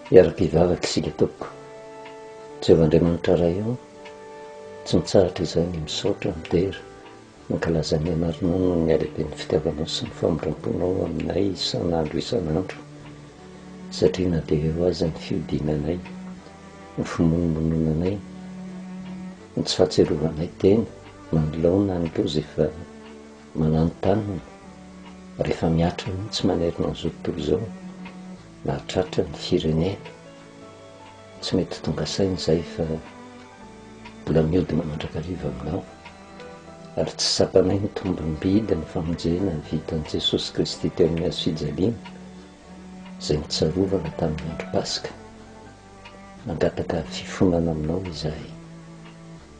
Hiara-pivavaka isika tompoko, Jehovah Andriamanitra Ray ô, tsy mitsahatra izahay ny misaotra, midera, mankalaza ny Anaranao noho ny halehiben'ny fitiavanao sy ny famindram-ponao aminay isan'andro isan'andro, satria na dia eo aza ny fihodinanay, ny fimonomononanay, ny tsy fahatsiarovanay tena, na ny laoniny na ny loza efa. Mananontanona rehefa mihatra mihitsy manerana an'izao tontolo izao ny mahatratra ny firenena. Tsy mety tonga saina izay fa mbola mihodina mandrakariva aminao ary tsy tsapanay ny tombom-bidy ny famonjena vitan'i Jesosy Kristy teo amin'ny hazo fijaliana izay nitsarovana tamin'ny andro Paska. Mangataka fifonana aminao izahay.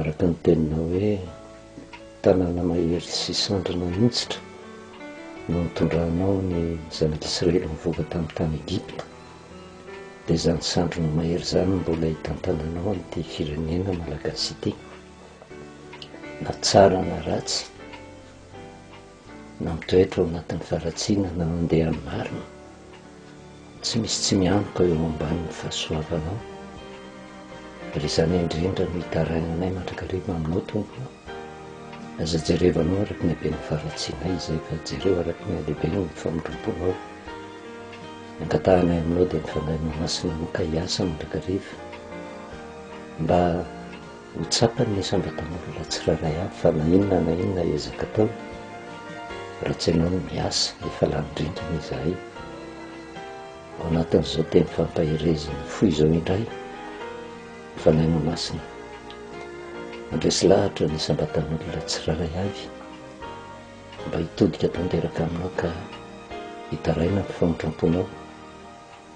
Araka ny teninao hoe tanàna mahery sy sandrina mihitsitra no nitondranao ny zanak'Israely nivoaka tamin'ny tany Egypta, dia izany sandrina mahery izany no mbola hitantananao an'ity firenena malagasy ity, na tsara na ratsy. Nampitoetra ao anatin'ny faharatsiana na nandeha amin'ny marina. Tsy misy tsy mianoka eo ambanin'ny fahasoavanao. Ary izany indrindra no itarainanay mandrakariva aminao Tompo ô. Aza jerevanao araka ny haben'ny faharatsianay izay fa jereo araka ny halehiben'ny famindram-ponao. Ny angatahanay aminao dia ny Fanahinao Masina maka hiasa mandrakariva mba Ho tsapany ny asandratan'olona tsirairay avy fa na inona na inona ezaka ataony, raha tsy ianao no miasa, efa lany rindrina izahay. Ao anatin'izao teny fampaherezin'ny fo izao indray ny Fanahy Mamasina mandresy lahatra ny asandratan'olona tsirairay avy mba hitodika tanteraka aminao ka hitaraina ny famotram-ponao,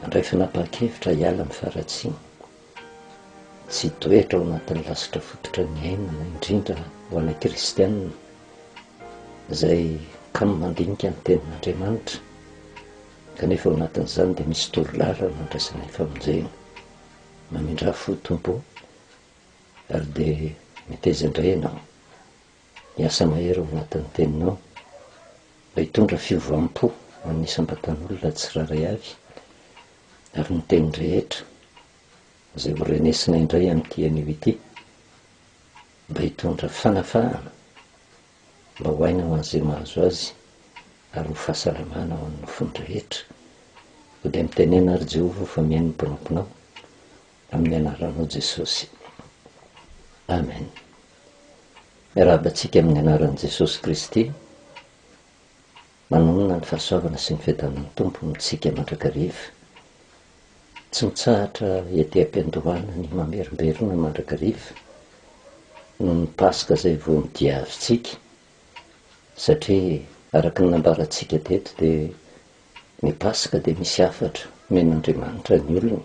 handray fanapahan-kevitra hiala amin'ny faharatsiana. Tsy toetra ao anatin'ny lasitra fototra ny ainana, indrindra ho anay kristiana, izay kamo mandinika ny tenin'Andriamanitra, kanefa ao anatin'izany dia misy toro lalana andraisanay famonjena. Mamindrà fo Tompo ô, ary dia meteza indray ianao. Miasa mahery ao anatin'ny teninao mba hitondra fiovam-po ho an'ny isam-batan'olona tsirairay avy, ary ny teny rehetra izay ho renesina indray amin'ity anio ity mba hitondra fanafahana mba ho aina ho an'izay mahazo azy ary ho fahasalamana ho an'ny nofony rehetra. Koa dia mitenena ary Jehovah fa mihaino ny mpanomponao amin'ny anaranao Jesosy. Amen. Miarahaba antsika amin'ny anaran'i Jesosy Kristy. Manonona ny fahasoavana sy ny fiadanan'ny Tompo amintsika mandrakariva. Tsy mitsahatra ety am-piandohana ny mamerimberina mandrakariva noho ny Paska izay vao nodiavintsika satria araka ny nambarantsika teto dia Ny Paska dia misy hafatra omen'Andriamanitra ny olony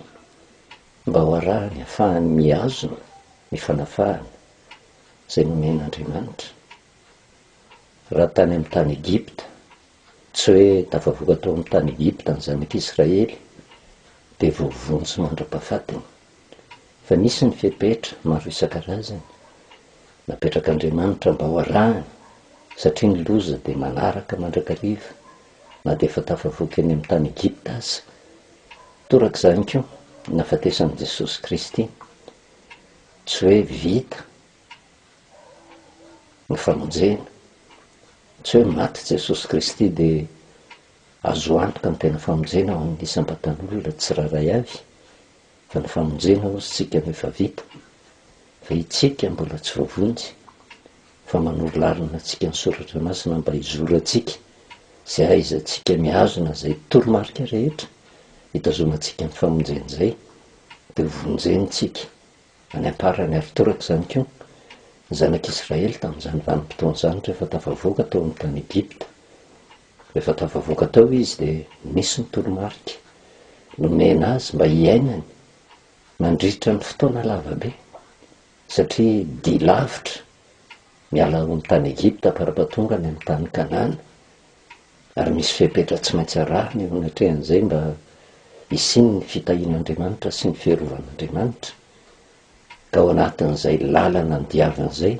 mba ho arahany hafahany mihazona ny fanafahana izay nomen'Andriamanitra. Raha tany amin'ny tany Egypta, tsy hoe tafavoaka tao amin'ny tany Egypta ny zanak'Israely dia voavonjy mandra-pahafatiny. fa nisy ny fepetra maro isan-karazany napetrak'Andriamanitra mba ho arahana satria ny loza dia manaraka mandrakariva na dia efa tafavoaka eny amin'ny tany Egypta aza. Torak'izany koa ny nahafatesan'i Jesosy Kristy. Tsy hoe vita ny famonjena. Tsy hoe maty Jesosy Kristy dia azo antoka ny tena famonjena ho an'ny isam-batan'olona tsirairay avy. fa ny famonjena hozy tsika no efa vita fa itsika mbola tsy voavonjy fa manoro lalana atsika ny soratra masina mba hizoratsika sy ahaizatsika mihazona zay toromarika rehetra hitazomatsika ny famonjena zay de ho vonjeny tsika any amparany ary toraka zany ko ny zanak'israely tamzany vanimpotoana zany refa tafavoaka tao am tany egypta Rehefa tafavoaka tao izy dia nisy ny toromarika nomena azy mba hiainany mandritra ny fotoana lava be, satria dia lavitra miala ao amin'ny tany Egypta farapahatonga any amin'ny tany Kanana, ary misy fepetra tsy maintsy arahina eo anatrehan'izay mba hisian'ny fitahian'Andriamanitra sy ny fiarovan'Andriamanitra, ka ao anatin'izay lalana andiavana izay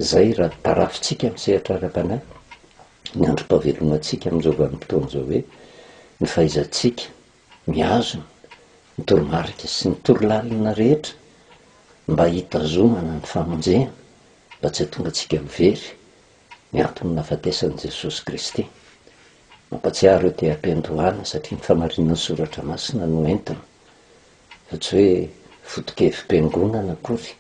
Izay raha tarafintsika amin'ny sehatra ara-panahy ny androm-pahavelomantsika amin'izao vanim-potoana izao hoe ny fahaizantsika mihazona ny toromarika sy ny torolalana rehetra mba hitazomana ny famonjena mba tsy hahatonga antsika ho very ny anton'ny nahafatesan'i Jesosy Kristy. Mampatsiaro io te-hampiandohana satria ny famarinan'ny soratra masina no entina fa tsy hoe foto-kevi-piangonana akory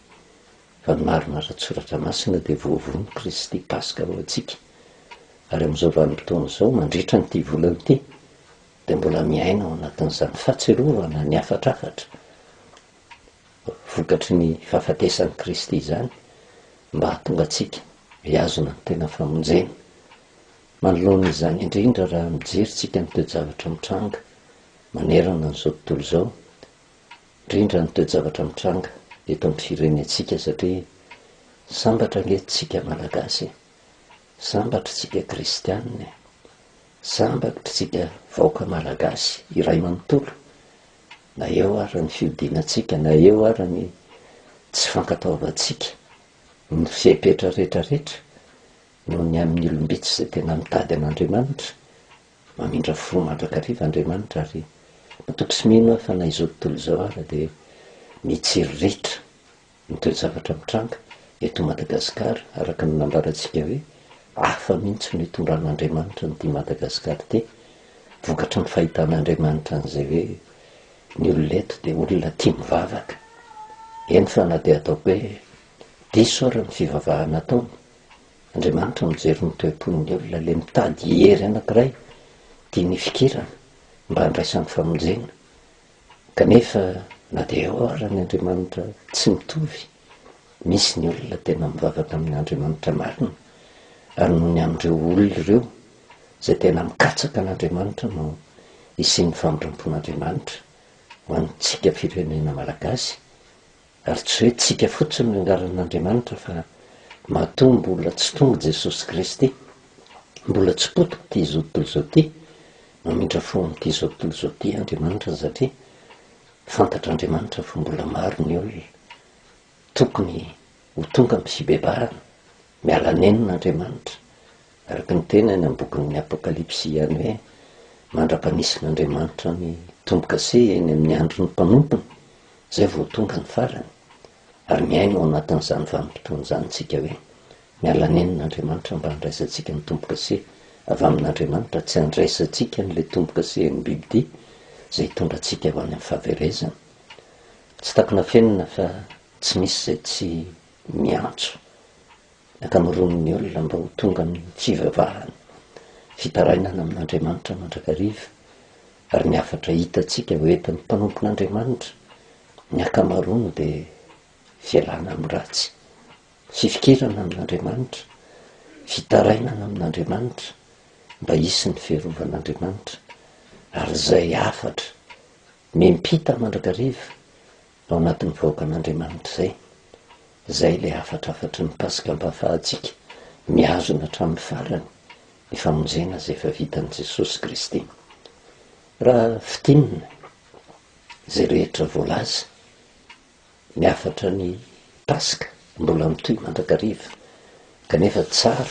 fa ny marina ara-tSoratra Masina dia voavono Kristy Paska ho antsika, ary amin'izao vanim-potoana izao, mandritra an'ity volana ity, dia mbola miaina ao anatin'izany fahatsiarovana ny hafatrafatra vokatry ny fahafatesan'i Kristy izany, mba hahatonga antsika hihazona ny tena famonjena. Manoloana izany indrindra raha mijery tsika ny toe-javatra mitranga manerana an'izao tontolo izao, rindra ny toe-javatra mitranga eto amin'ny firenentsika satria sambatra ange tsika Malagasy e! Sambatra tsika Kristianina e! Sambatra tsika vahoaka Malagasy iray manontolo na eo ara ny fihodinantsika na eo ara ny tsy fankatoavantsika ny fepetra rehetra rehetra noho ny amin'ny olom-bitsy izay tena mitady an'Andriamanitra Mamindra fo mandrakariva Andriamanitra ary matoky sy mino aho fa na izao tontolo izao ara dia mitsiriritra ny toe-javatra mitranga eto Madagascar araka ny nambarantsika hoe hafa mihintsy no itondran'Andriamanitra an'ity Madagascar ity vokatry ny fahitan'Andriamanitra an'izay hoe ny olona eto dia olona tia mivavaka eny fa na dia ataoko hoe diso ara ny fivavahana ataony Andriamanitra mijery ny toe-pon'ny olona, le mitady hery anankiray dia nifikirana mba handraisany famonjena, kanefa na dia eo ara ny Andriamanitra tsy mitovy, misy ny olona tena mivavaka amin'ny Andriamanitra marina, ary noho ny amin'ireo olona ireo izay tena mikatsaka an'Andriamanitra no hisian'ny famindrampon'Andriamanitra ho antsika firenena Malagasy Ary tsy hoe tsika fotsiny no angaran'Andriamanitra fa matoa mbola tsy tonga Jesosy Kristy, mbola tsy potika ity izao tontolo izao ity, mamindra fo amin'ity izao tontolo izao ity Andriamanitra satria fantatr'Andriamanitra fa mbola maro ny olona tokony ho tonga amin'ny fibebahana. Miala nenina Andriamanitra. Araka ny teny any amin'ny bokin'ny Apokalypsy ihany hoe mandra-panisin'Andriamanitra ny tombo-kase eny amin'ny andron'ny mpanompony, izay vao tonga ny farany. Ary miaina ao anatin'izany vanim-potoana izany isika hoe miala nenina Andriamanitra mba handraisantsika ny tombo-kase avy amin'Andriamanitra, tsy handraisantsika an'ilay tombo-kase an'ny bibidia izay hitondra antsika ho any amin'ny fahaverezana. Tsy takona fenina fa tsy misy izay tsy Miantso ny ankamaroan'ny olona mba ho tonga amin'ny fivavahana, fitarainana amin'Andriamanitra mandrakariva, ary ny hafatra hitantsika ho entin'ny mpanompon'Andriamanitra ny ankamaroany dia fialana amin'ny ratsy, fifikirana amin'Andriamanitra, fitarainana amin'Andriamanitra mba hisy ny fiarovan'Andriamanitra, ary izay hafatra miampita mandrakariva Ao anatin'ny vahoakan'Andriamanitra izay. Izay ilay hafatrafatry ny Paska ampahafahantsika mihazona hatramin'ny farany ny famonjena izay efa vitan'i Jesosy Kristy. Raha fintinina izay rehetra voalaza, ny hafatra ny Paska mbola mitohy mandrakariva, Kanefa tsara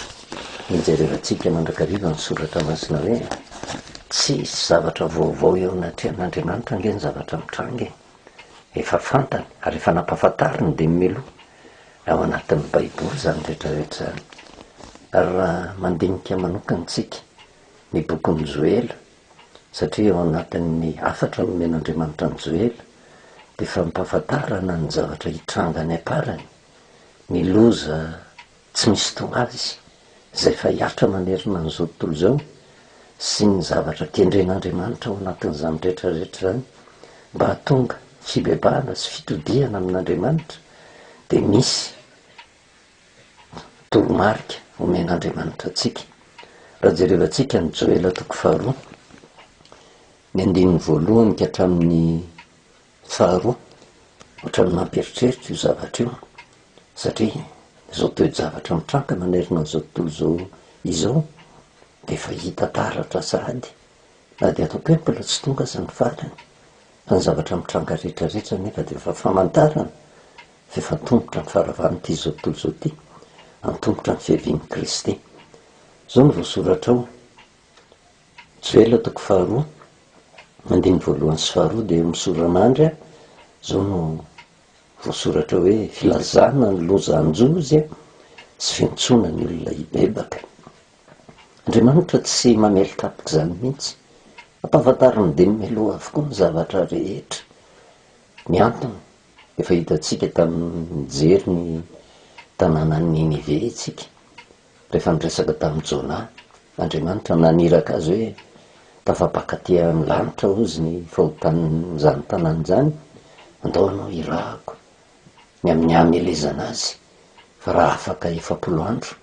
ny jerevantsika mandrakariva ny Soratra Masina hoe, Tsy hisy zavatra vaovao eo anatrehan'Andriamanitra ange ny zavatra mitranga e! Efa fantany ary efa nampahafantariny dimy milo ao anatin'ny Baiboly izany rehetrarehetra izany. Ary raha mandinika manokana isika ny bokin'i Joela, satria ao anatin'ny hafatra nomen'Andriamanitra an'i Joela dia fampahafantarana ny zavatra hitranga any am-parany, Ny loza tsy misy tonga azy izay efa hiatra manerana an'izao tontolo izao sy ny zavatra kendren'Andriamanitra ao anatin'izany rehetra rehetra izany mba hahatonga fibebahana sy fitodihana amin'Andriamanitra dia misy toromarika omen'Andriamanitra antsika. Raha jerevantsika ny Joela toko faharoa, ny andininy voalohany ka hatramin'ny Faharoa, ohatran'ny mampieritreritra io zavatra io satria izao toe-javatra mitranga manerana an'izao tontolo izao izao dia efa hita taratra sahady na dia ataoko hoe mbola tsy tonga aza ny farany fa ny zavatra mitranga rehetrarehetra anefa dia efa famantarana fa efa antomotra ny faravan'ity izao tontolo izao ity, antomotra ny fiavian'i Kristy. Izao no voasoratra ao, Joela toko faharoa, andininy voalohany sy faharoa dia misoran'andry a, izao no voasoratra hoe, Filazana ny loza hanjozy a, sy fiantsoana ny olona hibebaka. Andriamanitra tsy mamely kapoka izany mihitsy. Ampahafantariny dieny mialoha avokoa ny zavatra rehetra. Ny antony, efa hitantsika tamin'ny nijery ny tanànan'i Ninive isika. Rehefa niresaka tamin'i Jona, Andriamanitra naniraka azy hoe, Tafapaka aty amin'ny lanitra hozy ny fahotan'izany tanàna izany, andao ianao hirahako ny amin'ny hamelezana azy, fa raha afaka efapolo andro,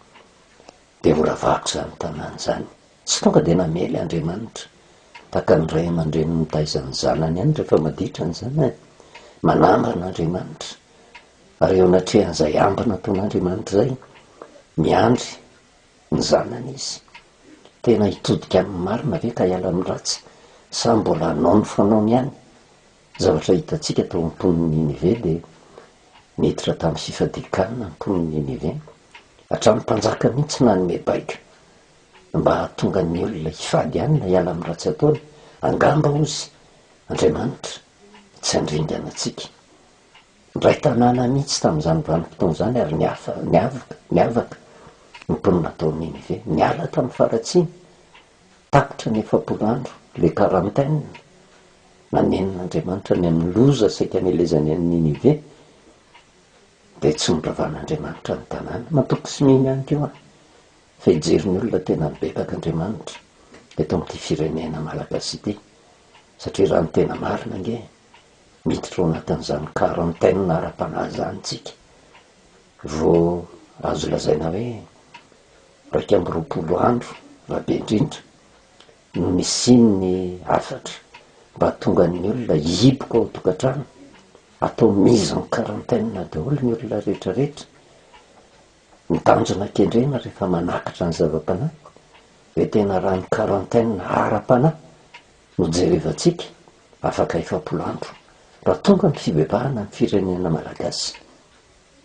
dia horavahako izany tanàna izany. Tsy tonga dia namely Andriamanitra, tahaka ny ray aman-dreny mitaiza ny zanany ihany rehefa maditra ny zanany. Manambana Andriamanitra. ary eo anatrehan'izay ambiny ataon'Andriamanitra izay, miandry ny zanany izy. Tena hitodika amin'ny marina ve ka hiala amin'ny ratsy, sa mbola hanao ny fanaony ihany? Ny zavatra hitantsika tao amin'ny mponin'i Ninive dia niditra tamin'ny fifadian-kanina ny mponin'i Ninive, hatramin'ny mpanjaka mihitsy nanome baiko mba hahatonga ny olona hifady hanina hiala amin'ny ratsy ataony, angamba, hozy, Andriamanitra tsy handringana antsika. Indray tanàna mihitsy tamin'izany vanim-potoana izany ary niafa, niavaka, niavaka ny mponina tao Ninive. Niala tamin'ny faharatsiana, tapitra ny efapolo andro, le quarantaine, nanenon'Andriamanitra ny amin'ny loza saika nelezany an'i Ninive, dia tsy noravan'Andriamanitra ny tanàna. Matoky sy mino ihany koa aho fa hijery ny olona tena mibebaka Andriamanitra eto amin'ity firenena Malagasy ity, satria raha ny tena marina ange, miditra ao anatin'izany quarantaine ara-panahy izany isika vao azo lazaina hoe iraika amby roapolo andro raha be indrindra no nisian'ny hafatra mba hahatonga ny olona hihiboka ao an-tokantrano, atao mise en quarantaine daholo ny olona rehetrarehetra, ny tanjona kendrena rehefa manakatra ny zava-panahy dia tena raha ny quarantaine ara-panahy. Nojerevantsika afaka efapolo andro raha tonga ny fibebarana amin'ny firenena Malagasy.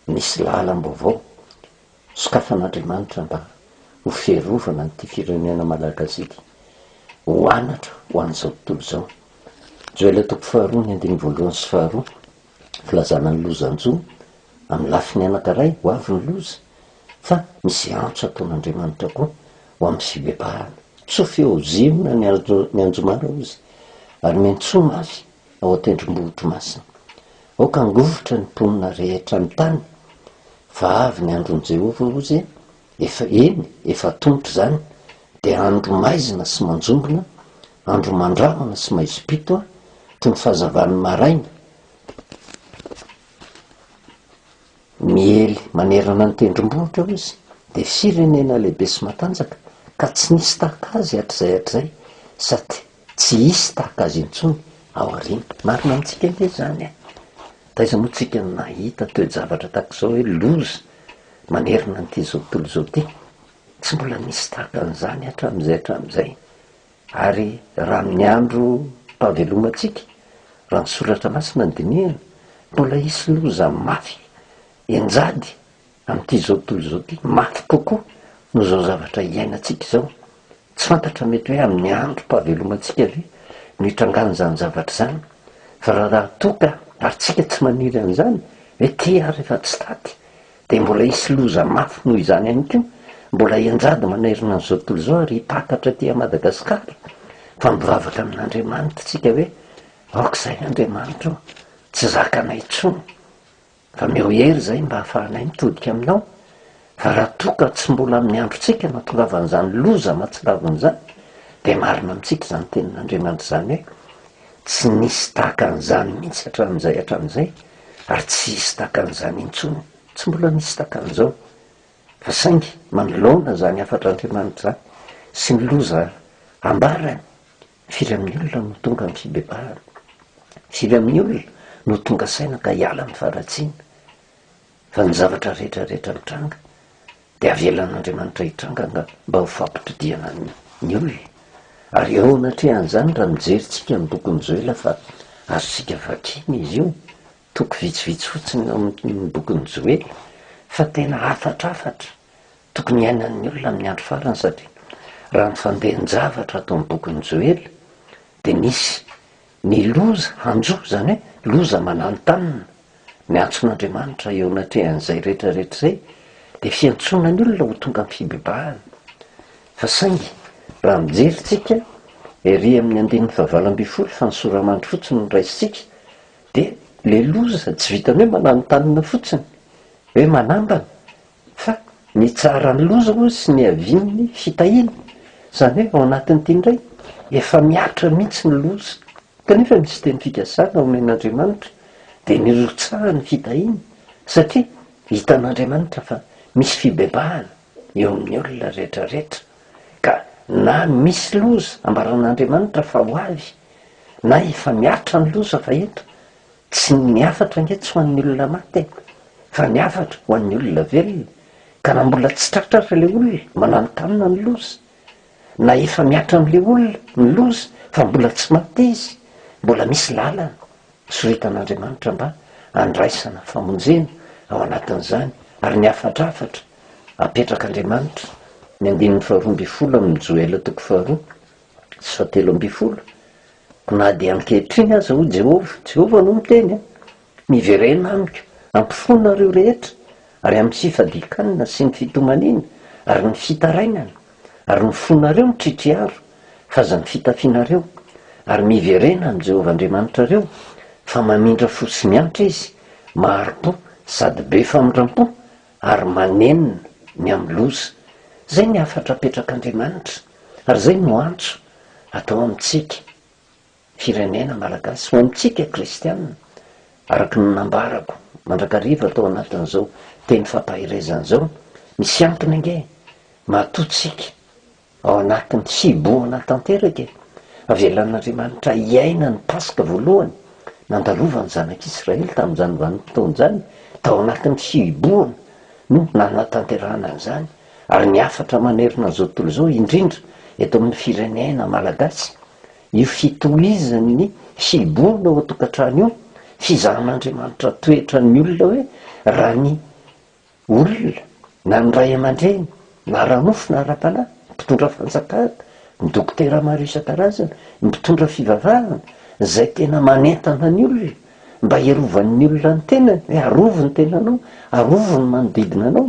Nisy lahalam-baovao sokafan'Andriamanitra mba ho fiarovana an'ity firenena Malagasy ity ho anatra ho an'izao tontolo izao. Joel toko faharoa ny andininy voalohany sy faharoa. Filazana ny lozan-jo amin'ny lafiny anankiray ho avy ny loza, fa misy antso ataon'Andriamanitra koa ho amin'ny fibebahana. Tsoa feo Ziona nianjomara, hoy Izy, ary miantsoa mafy ao an-tendrombohitro masina. Aoka hangovitra ny mponina rehetra ny tany, fa avy ny andron'i Jehovah, hoy Izy, Efa eny, efa tonta izany, dia andro maizina sy manjombona, andro mandrahona sy maizim-pito an, toy ny fahazavan'ny maraina, miely manerana ny tendrombohitra ao izy, dia firenena lehibe sy matanjaka, ka tsy nisy tahaka azy hatrizay hatrizay, sady Tsy hisy tahaka azy intsony aoriana. Marina amintsika ange izany e! Taiza moa tsika no nahita toe-javatra tahaka izao hoe loza manerana an'ity izao tontolo izao ity? Tsy mbola nisy tahaka an'izany hatramin'izay hatramin'izay. Ary raha amin'ny androm-pahavelomantsika, raha ny soratra masina no dinihana, mbola hisy loza mafy henjady amin'ity izao tontolo izao ity, mafy kokoa noho izao zavatra iainantsika izao. Tsy fantatra mety hoe amin'ny androm-pahavelomantsika ve no hitrangan'izany zavatra izany, fa raha raha toa ka ary tsika tsy maniry an'izany ve ty ary efa tsy taty dia mbola hisy loza mafy noho izany ihany koa, mbola henjady manerana an'izao tontolo izao ary hipakatra aty a Madagasikara fa mivavaka amin'Andriamanitra tsika hoe aoka izay Andriamanitra o, tsy zakanay intsony Ameo hery izay mba hahafahanay mitodika aminao, fa raha toa ka tsy mbola amin'ny androntsika no hahatongavan'izany loza mahatsiravina izany, dia marina amintsika izany tenin'Andriamanitra izany hoe, Tsy nisy tahaka an'izany mihitsy hatramin'izay hatramin'izay, ary tsy hisy tahaka an'izany intsony, tsy mbola nisy tahaka an'izao. Fa saingy manoloana izany hafatr'Andriamanitra izany, sy ny loza ambarany, Firy amin'ny olona no tonga amin'ny fibebahana? Firy amin'ny olona no tonga saina ka hiala amin'ny faharatsiana? Fa ny zavatra rehetra rehetra mitranga dia avelan'Andriamanitra hitranga nga mba ho fampitodihana ny olona. Ary eo anatrehan'izany raha mijery tsika ny bokin'i Joela fa azontsika vakina izy io, toko vitsivitsy fotsiny ao amin'ny bokin'i Joela fa tena hafatrafatra Tokony hiainan'ny olona amin'ny andro farany satria raha ny fandehan-javatra ato amin'ny bokin'i Joely dia misy ny loza hanjo, izany hoe loza mananontanona. Ny antson'Andriamanitra eo anatrehan'izay rehetrarehetra izay dia fiantsoana ny olona ho tonga amin'ny fibebahana. Fa saingy raha mijery isika ery amin'ny andininy fahavalo ambin'ny folo fa ny sora-mandry fotsiny no raisintsika dia ilay loza tsy vitan'ny hoe mananontanona fotsiny, hoe manambana, Fa ny tsaran'ny loza hono sy niavian'ny fitahiana. Izany hoe ao anatin'ity indray efa mihatra mihitsy ny loza, kanefa misy teny fikasana omen'Andriamanitra dia ny hirotsahan'ny fitahiana, satria hitan'Andriamanitra fa misy fibebahana eo amin'ny olona rehetra rehetra, ka na misy loza ambaran'Andriamanitra fa ho avy, na efa mihatra ny loza fa eto, Tsy ny hafatra ange tsy ho an'ny olona maty e, fa ny hafatra ho an'ny olona velona, ka na mbola tsy tratra aza ilay olona, mananontanona ny loza, na efa mihatra amin'ilay olona ny loza fa mbola tsy maty izy, mbola misy lalana soritan'Andriamanitra mba handraisana famonjena ao anatin'izany, ary ny hafatr'hafatra apetrak'Andriamanitra, ny andininy faharoa ambin'ny folo amin'ny Joela toko faharoa, sy telo ambin'ny folo, Na dia ankehitriny aza, hoy Jehovah, Jehovah no miteny a! miverena amiko, ampofoanareo rehetra, ary amin'ny fifadian-kanina sy ny fitomaniana, ary ny fitarainana, ary ny fonareo mitritry aro, fa aza ny fitafianareo, ary miverena amin'i Jehovah Andriamanitrareo, fa mamindra fo sy miantra izy, mahari-po sady be famindram-po, ary manenina ny amin'ny loza. Izay ny hafatra apetrak'Andriamanitra ary izay no antso atao amintsika firenena Malagasy, ho amintsika kristiana, araka ny nambarako mandrakariva tao anatin'izao teny fampaherezana izao, misy antony ange mahatontsika Ao anatin'ny hibohana tanteraka e! Avelan'Andriamanitra hiaina ny Paska voalohany nandalovan'ny zanak'Israely tamin'izany vanim-potoana izany, tao anatin'ny hibohana no nanatanterahana an'izany, ary ny hafatra manerana an'izao tontolo izao, indrindra eto amin'ny firenena malagasy, io fitohizan'ny hibohana ao an-tokantrano io, fizahan'Andriamanitra toetra ny olona hoe raha ny Olona, na ny ray aman-dreny, na ara-nofo na ara-panahy, ny mpitondra fanjakana, ny dokotera maro isan-karazany, ny mpitondra fivavahana, izay tena manentana ny olona mba hirovan'ny olona ny tenany, hoe arovy ny tenanao, arovy ny manodidina anao,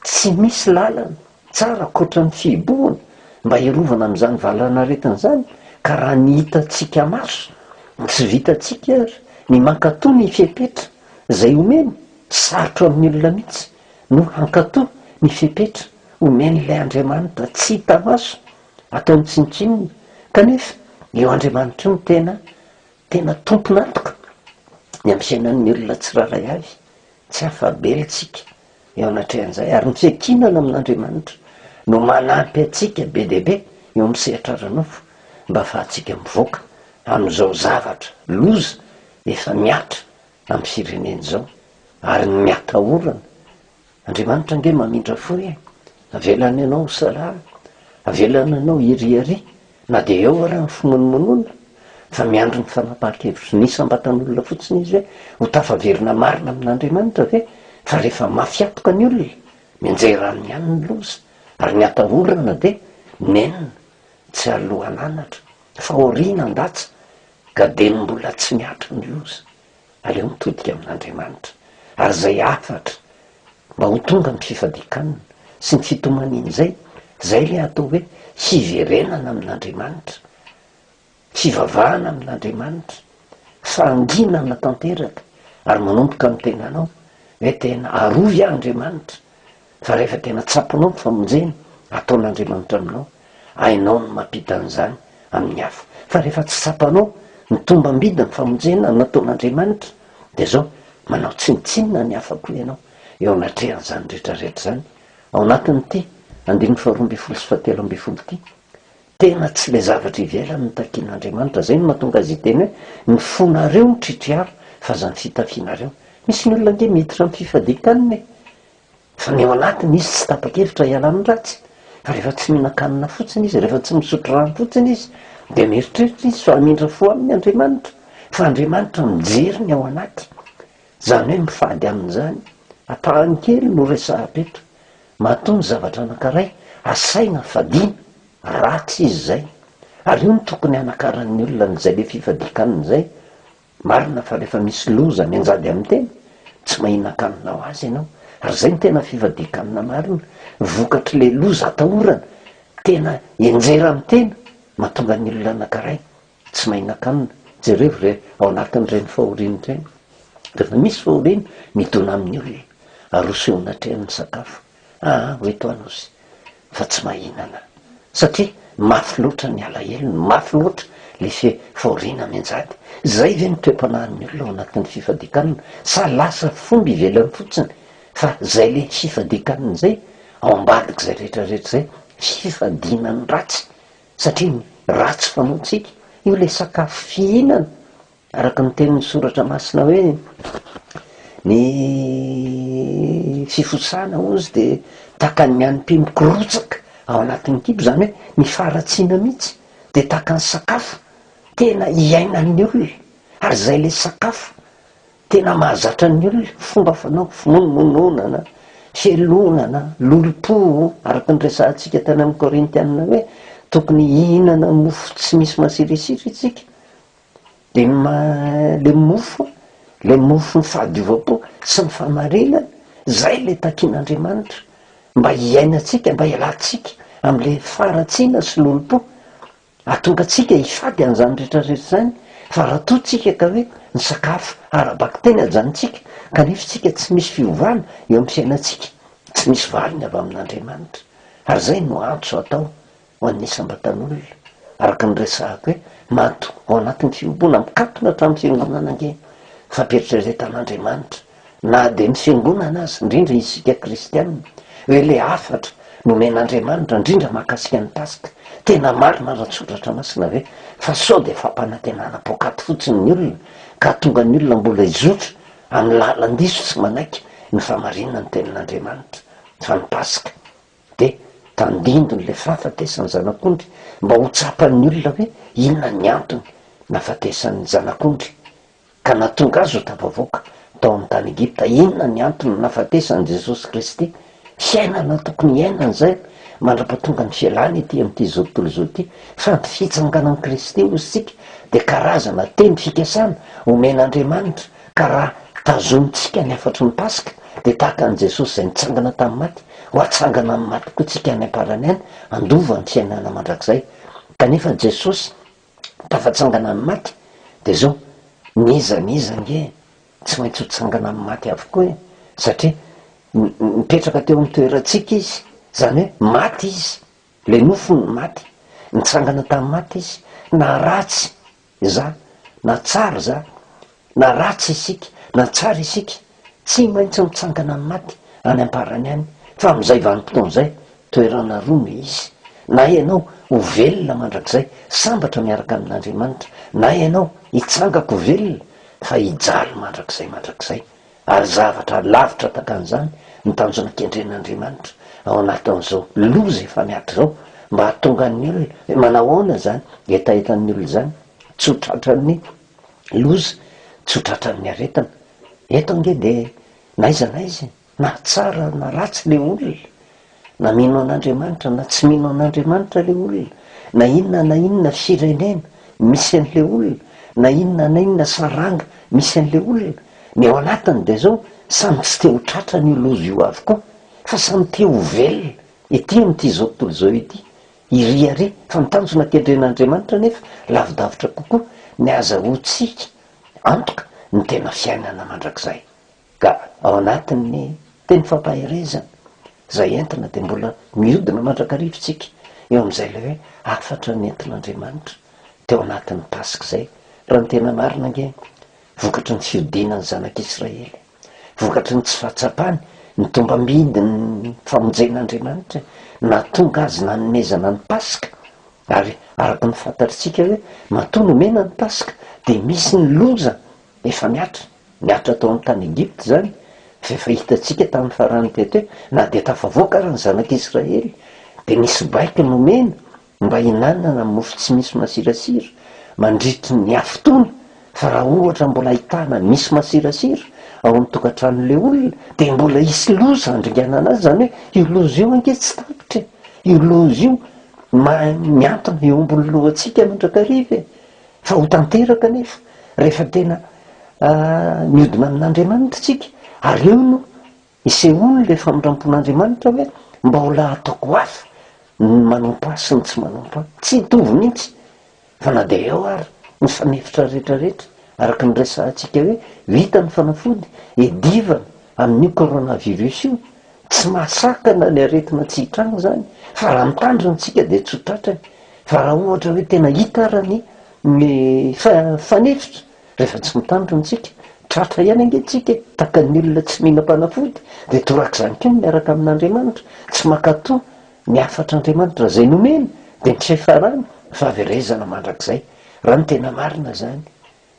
tsy misy lalana. Tsara ankoatra ny fihibohana mba hiarovana amin'izany valanaretina izany ka raha ny hitantsika maso no tsy vitantsika ary ny mankatoa ny fepetra izay omeny, sarotra amin'ny olona mihitsy no hankatoa ny fepetra omen'ilay Andriamanitra tsy hita maso ataony tsinontsinona kanefa io Andriamanitra io no tena tena tompon'antoka ny amin'ny fiainan'ny olona tsirairay avy, tsy afa-bela isika Eo anatrehan'izay, ary ny fiankinana amin'Andriamanitra no manampy antsika be dia be eo amin'ny sehatra ara-nofo mba hahafahantsika mivoaka amin'izao zavatra loza efa mihatra amin'ny firenena izao ary ny miatahorana. Andriamanitra ange mamindra fo e! Avelany anao ho salama, avelany anao hiriaria Na dia eo ary ny fimonomonoana fa miandry ny fanapahan-kevitry ny isam-batan'olona fotsiny izy hoe ho tafaverina marina amin'Andriamanitra ve fa rehefa mafy antoka ny olona, mianjera aminy ihany ny loza ary ny atahorana dia nenina tsy alohan'anatra fa aoriana an-datsa ka dia ny mbola tsy mihatra ny loza. aleo mitodika amin'Andriamanitra, ary izay hafatra mba ho tonga ny fifadikanna sy ny fitomaniana izay, izay ilay atao hoe hiverenana amin'Andriamanitra, fivavahana amin'Andriamanitra, fahanginana tanteraka ary manomboka amin'ny tenanao hoe tena arovy aho Andriamanitra, Fa rehefa tena tsapanao ny famonjena ataon'Andriamanitra aminao, hainao ny mampita an'izany amin'ny hafa. Fa rehefa tsy tsapanao ny tombambidin'ny famonjena nataon'Andriamanitra, dia izao, manao tsinontsinona ny hafa koa ianao eo anatrehan'izany rehetrarehetra izany. Ao anatin'ity andininy faharoa ambin'ny folo sy fahatelo ambin'ny folo ity, tena tsy ilay zavatra ivelany no takian'Andriamanitra. Izay no mahatonga azy hiteny hoe, Ny fonareo no tritriara, fa aza ny fitafianareo. Misy ny olona ange miditra amin'ny fifadian-kanina e! Fa ny ao anatiny izy tsy tapa-kevitra hiala amin'ny ratsy. Fa rehefa tsy mihinan-kanina fotsiny izy, rehefa tsy misotro rano fotsiny izy, dia mieritreritra izy fa hamindra fo aminy Andriamanitra. Fa Andriamanitra mijery ny ao anaty. Izany hoe mifady amin'izany. Ampahany kely no resahako eto. Matoa ny zavatra anankiray asaina fadiana, ratsy izy izay. Ary io no tokony hanakaran'ny olona an'izay be fifadian-kanina izay. Marina fa rehefa misy loza mianjady amin'ny tena, tsy mahinan-kanina ho azy ianao. Ary izay no tena fivadihan-kanina marina. Vokatr'ilay loza atahorana, tena henjera amin'ny tena, mahatonga ny olona anankiray tsy mahinan-kanina. Jerevo ve ao anatin'ireny fahoriana ireny, rehefa misy fahoriana midona amin'ny olona, aroso eo anatrehan'ny sakafo. Aa hoy toa nosy fa tsy mahinana satria mafy loatra ny alahelony, mafy loatra le fihoriana mianjady. Zay ve ny toe-panahin'ny olona ao anatin'ny fifadikanana sa lasa fomba ivelany fotsiny fa zay le fifadikanana zay ao ambadik'zay rehetra rehetra zay fifadiana ny ratsy satria ny ratsy fanaontsika io le sakafo fihinana Araka ny tenin'ny Soratra Masina hoe, Ny fifosahana hozy dia tahaka ny an'ny mpihy mikorotsaka ao anatin'ny kibo, izany hoe ny faharatsiana mihitsy dia tahaka ny sakafo tena iainan'ny olona, ary izay ilay sakafo tena mahazatra ny olona, fomba fanao, fimonononana, fialonana, lolompo, araka ny resahantsika tany amin'ny Korintiana hoe tokony hihinana mofo tsy misy masirisiry isika, de ny maha le mofo le mofon'ny fahadiovam-po sy ny fahamarinana zay le takin'Andriamanitra mba hiainantsika mba hialantsika am'le faharatsiana sy lolompo ahatonga antsika hifady an'zany rehetra rehetra zany fa raha toa tsika ka hoe ny sakafo ara-bakiteny ajanontsika kanefa tsika tsy misy fiovana eo amin'ny fiainantsika tsy misy valiny avy amin'Andriamanitra ary zay no antso atao ho an'ny isam-batan'olona, araka ny resahako hoe maty ao anatin'ny fiombona mikatona hatramin'ny fiangonana ange ny fampieritreretan'Andriamanitra, na dia ny fiangonana aza, indrindra isika kristiana, hoe ilay hafatra nomen'Andriamanitra indrindra mahakasika ny Paska, tena marina raha ny soratra masina hoe fa sao dia fampanantenana poakaty fotsiny ny olona ka hahatonga ny olona mbola hizotra amin'ny lalan-diso tsy manaiky ny famarinan'ny tenin'Andriamanitra fa ny Paska Dia tandindony ilay fahafatesan'ny zanak'ondry mba ho tsapan'ny olona hoe inona ny antony nahafatesan'ny zanak'ondry, ka nahatonga azy ho tafavoaka tao amin'ny tany Egypta. Inona ny antony nahafatesan'i Jesosy Kristy? Hiainana tokony hiainana izay mandrapatonga ny fialany ety amin'ity tontolo izao ity, fa ny fitsanganan'i Kristy hoy isika dia karazana teny fikasana omen'Andriamanitra Ka raha tazonintsika ny hafatry ny Paska, dia tahaka an'i Jesosy izay nitsangana tamin'ny maty, ho hatsangana amin'ny maty koa tsika any am-parany any, handova ny fiainana mandrakizay. Kanefa Jesosy tafatsangana ny maty, dia zao, ny iza ny iza ange tsy maintsy ho tsangana amin'ny maty avokoa e! satria nipetraka teo amin'ny toerantsika Izy, izany hoe maty Izy, le nofo no maty, nitsangana tamin'ny maty Izy, na ratsy Izany na tsara izany na ratsy isika na tsara isika tsy maintsy mitsangana amin'ny maty any amparany any fa amin'izay vanim-potoana izay toerana roa no hisy na ianao ho velona mandrakizay sambatra miaraka amin'Andriamanitra na ianao hitsangako velona fa hijaly mandrakizay mandrakizay Ary zavatra lavitra takan'izany ny tanjona kendren'Andriamanitra ao anatin'izao loza efa miato izao, mba hahatonga ny olona, manahoana izany hetahetan'ny olona izany? Tsy ho tratran'ny loza, tsy ho tratran'ny aretina. Eto ange dia na iza na iza e! Na tsara na ratsy ilay olona, Na mino an'Andriamanitra na tsy mino an'Andriamanitra ilay olona, na inona na inona firenena misy an'ilay olona, na inona na inona saranga misy an'ilay olona, ny ao anatiny dia izao, samy tsy te ho tratran'io loza io avokoa, fa samy te ho velona ety amin'ity izao tontolo izao ity, iry àry, fa ny tanjona kendren'Andriamanitra anefa lavidavitra kokoa, ny hazahoantsika antoka ny tena fiainana mandrakizay. Ka ao anatin'ny teny fampaherezana izay entina dia mbola mihodina mandrakariva isika eo amin'izay ilay hoe hafatra nentin'Andriamanitra teo anatin'ny Paska izay raha ny tena marina ange vokatry ny fihodinan'ny zanak'Israely, vokatry ny tsy fahatsapany ny tombambidin'ny famonjen'Andriamanitra e, nahatonga azy nanomezana ny Paska ary araka ny fantatr'isika hoe matoa nomena ny Paska dia misy ny loza efa mihatra. Niaritra tao amin'ny tany Egypta izany, izay efa hitantsika tamin'ny farany teto hoe na dia tafavoaka ary ny zanak'i Israely dia nisy baiko nomena mba hinanana mofo tsy misy masirasira mandritry ny afitoana fa raha ohatra mbola ahitana misy masirasira ao amin'ny tokantranon'ilay olona dia mbola hisy loza handringanana azy, izany hoe io loza io ange tsy tapitra e! io loza io mahay mihantona eo ambony lohantsika mandrakariva e! Fa ho tanteraka anefa rehefa tena mihodina amin'Andriamanitra isika, ary eo no isehoany ilay famindrampon'Andriamanitra hoe, Mbaolà ataoko ho avy ny manompo Ahy sy ny tsy manompo Ahy. Tsy hitovy mihitsy, fa na dia eo ary ny fanefitra rehetra rehetra, araka ny resahantsika hoe, vita ny fanafody, edivana amin'io coronavirus io, Tsy mahasakana ny aretina tsy hitranga izany fa raha mitandrina isika dia tsy ho tratrany fa raha ohatra hoe tena hita ara ny ny fanefitra rehefa tsy mitandrina isika tratra ihany ange isika e! tahaka ny olona tsy mihinam-panafody dia torak'izany koa ny miaraka amin'Andriamanitra tsy mankato ny hafatr'Andriamanitra izay nomeny dia ny tsy fiafarany fahaverezana mandrakizay raha ny tena marina izany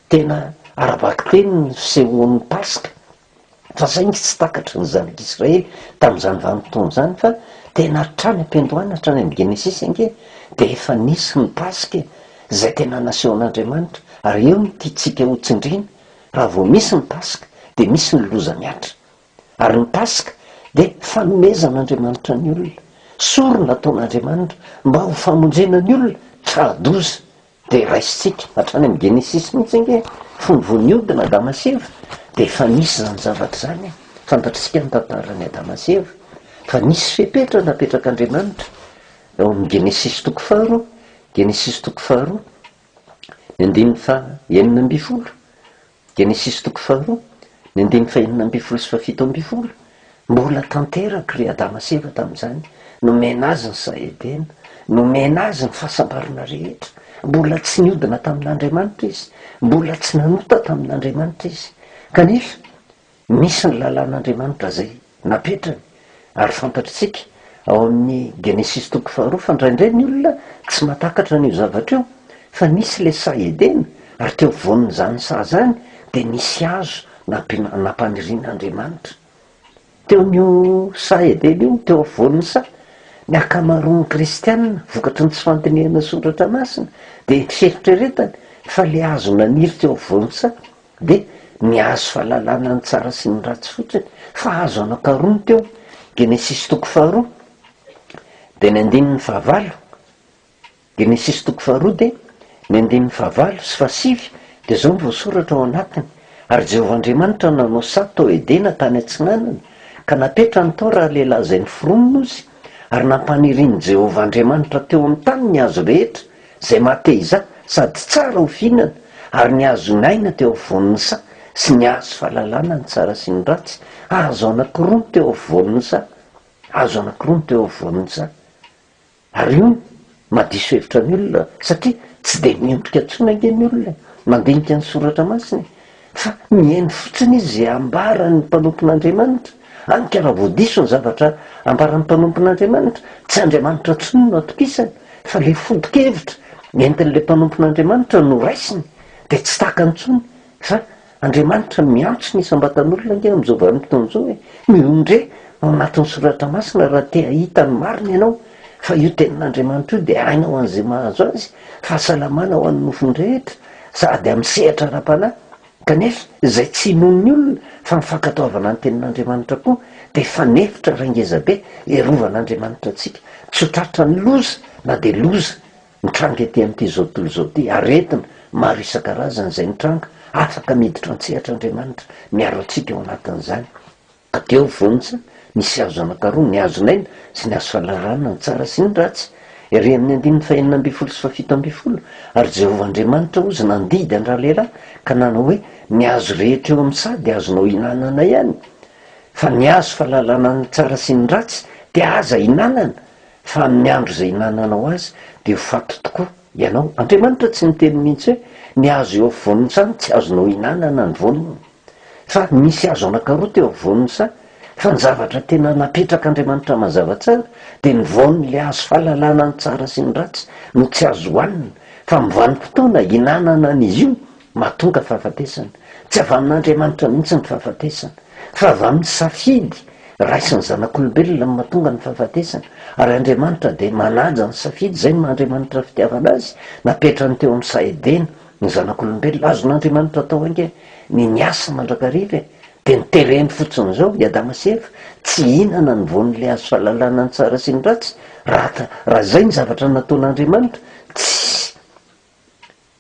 tena ara-bakiteny ny fisehoan'ny Paska Fa saingy tsy takatry ny Zanak'i Israely tamin'izany vanim-potoana izany fa tena hatrany am-piandohana hatrany amin'ny Genesisy ange dia efa nisy ny Paska e! izay tena nasehon'Andriamanitra ary eo no tiantsika ho tsindriana, raha vao misy ny Paska dia misy ny loza mihatra. Ary ny Paska dia fanomezan'Andriamanitra ny olona, sorona ataon'Andriamanitra mba ho famonjena ny olona tra-doza Dia raisintsika hatrany amin'ny Genesisy mihitsy ange fony vao nihodina Adama sy Eva dia efa nisy izany zavatra izany e! Fantatr'isika ny tantaran'i Adama sy Eva fa nisy fepetra napetrak'Andriamanitra eo amin'ny Genesisy toko faharoa, Genesisy toko faharoa, ny andininy faha enina ambin'ny folo. Genesisy toko faharoa, ny andininy fahenina ambin'ny folo sy fahafito ambin'ny folo, Mbola tanteraka ry Adama sy Eva tamin'izany, nomena azy ny saha Edena, nomena azy ny fahasambarana rehetra. Mbola tsy niodina tamin'Andriamanitra izy, mbola tsy nanota tamin'Andriamanitra izy. Kanefa, Misy ny lalàn'Andriamanitra izay napetrany ary fantatr'tsika ao amin'ny Genesisy toko faharoa fa ndraindray ny olona tsy matakatra an'io zavatra io fa nisy ilay saha Edena ary teo afovoan'izany saha izany dia nisy hazo nampiana nampanirian'Andriamanitra teo amin'io saha Edena io teo afovoan'ny saha ny ankamaroan'ny kristiana vokatry ny tsy fandinihana soratra masina dia eritreretany fa ilay hazo naniry teo afovoan'ny saha Dia ny azo fahalalana ny tsara sy ny ratsy fotsiny, fa azo anankaroany teo, Genesisy toko faharoa, dia ny andininy fahavalo, Genesisy toko faharoa dia ny andininy fahavalo sy fahasivy, dia izao no voasoratra ao anatiny, Ary Jehovah Andriamanitra nanao saha tao Edena tany atsinanana, ka napetrany tao ralehilahy izay niforona ozy, ary nampanirin'i Jehovah Andriamanitra teo amin'ny tany ny hazo rehetra, Zay mateiza sady tsara ho fihinana ary ny azo naina teo afovoan'ny saha sy ny azo fahalalana ny tsara sy ny ratsy, azo anankiroa no teo afovoan'ny saha, azo anankiroa no teo afovoan'ny saha. Ary io no mahadiso hevitra ny olona satria tsy dia miondrika intsony ange ny olona e, mandinika ny soratra masina e. Fa mihaino fotsiny izy izay ambaran'ny mpanompon'Andriamanitra. Hany ka raha vao diso ny zavatra ambaran'ny mpanompon'Andriamanitra, tsy Andriamanitra intsony no atokisany, fa ilay foto-kevitra entin'ilay mpanompon'Andriamanitra no raisiny, dia tsy takany intsony. Fa Andriamanitra miantso ny isam-batan'olona ange amin'izao vanim-potoana izao hoe, Mihonon-dre ao anatin'ny soratra masina raha te hahita ny marina ianao, fa io tenin'Andriamanitra io dia aina ho an'izay mahazo azy, fahasalamana ho an'ny nofony rehetra. sady amin'ny sehatra ara-panahy, kanefa izay tsy inoan'ny olona fa ny fankatoavana ny Tenin'Andriamanitra koa dia efa nefitra iray ngeza be hirovan'Andriamanitra antsika tsy ho tratran'ny loza na dia loza mitranga ety amin'ity zao tontolo izao ity, aretina maro isan-karazany izay mitranga afaka miditra an-tsehatr'Andriamanitra miaro antsika ao anatin'izany. Ka teo vonjy, nisy hazo anankaroa, ny hazon'aina sy ny hazo fahalalarana ny tsara sy ny ratsy. Ery amin'ny andininy fahenina ambin'ny folo sy fahafito ambin'ny folo, Ary Jehovah Andriamanitra ozy nandidy an-dralehilahy, ka nanao hoe, Ny hazo rehetra eo amin'ny saha dia azonao ihinanana ihany, fa ny hazo fahalalanana ny tsara sy ny ratsy dia aza ihinanana, fa amin'ny andro izay ihinananao azy dia ho faty tokoa. Ianao. Andriamanitra tsy niteny mihitsy hoe ny hazo eo afovoan'ny saha tsy azonao ihinanana ny voany, fa nisy hazo anankaroa teo afovoan'ny saha, fa ny zavatra tena napetrak'Andriamanitra mazava tsara dia ny voan'ilay hazo fahalalana ny tsara sy ny ratsy no tsy azo hohanina, fa amin'ny vanim-potoana ihinanana an'izy io Mahatonga fahafatesana. Tsy avy amin'Andriamanitra mihitsy ny fahafatesana, fa avy amin'ny safidy raisin'ny zanak'olombelona no mahatonga ny fahafatesana. Ary Andriamanitra dia manaja ny safidy, izay no maha Andriamanitra fitiavana azy, napetrany teo amin'ny saha Edena ny zanak'olombelona. Azon'Andriamanitra atao hainga ny miasa mandrakariva e! Dia ny tereny fotsiny izao, i Adama sy Eva tsy hihinana ny voan'ilay hazo fahalalana ny tsara sy ny ratsy, raha izay ny zavatra nataon'Andriamanitra, tsy.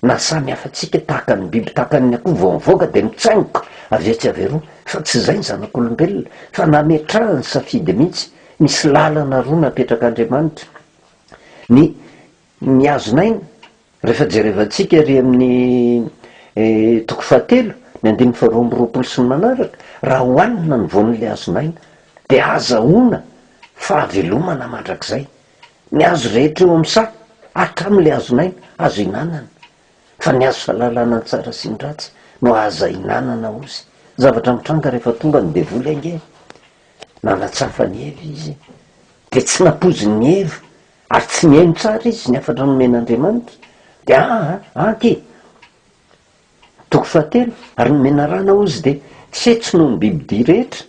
Na samy hafa antsika tahaka ny biby tahaka ny akoho vao mivoaka dia mitsaingoka avy etsy avy eroa fa tsy izay ny zanak'olombelona fa nametrahany safidy mihitsy, misy lalana roa napetrak'Andriamanitra ny mihazon'aina rehefa jerevantsika ery amin'ny toko fahatelo ny andininy faharoa amby roapolo sy ny manaraka raha hohanina ny voan'ilay hazon'aina dia azahoana fahavelomana mandrakizay Ny hazo rehetra eo amin'ny saha, hatramin' ilay hazon'aina, azo hinanana, fa ny hazo fahalalana ny tsara sy ny ratsy no aza hinanana ozy. Zavatra mitranga rehefa tonga ny devoly ange e! Nanatsafa an'i Eva izy, dia tsy nampoizin'i Eva, ary tsy nihaino tsara izy ny hafatra nomen'Andriamanitra, dia an, an, anty e! Toko fahatelo, Ary ny menarana hozy dia tsetsy noho ny bibidia rehetra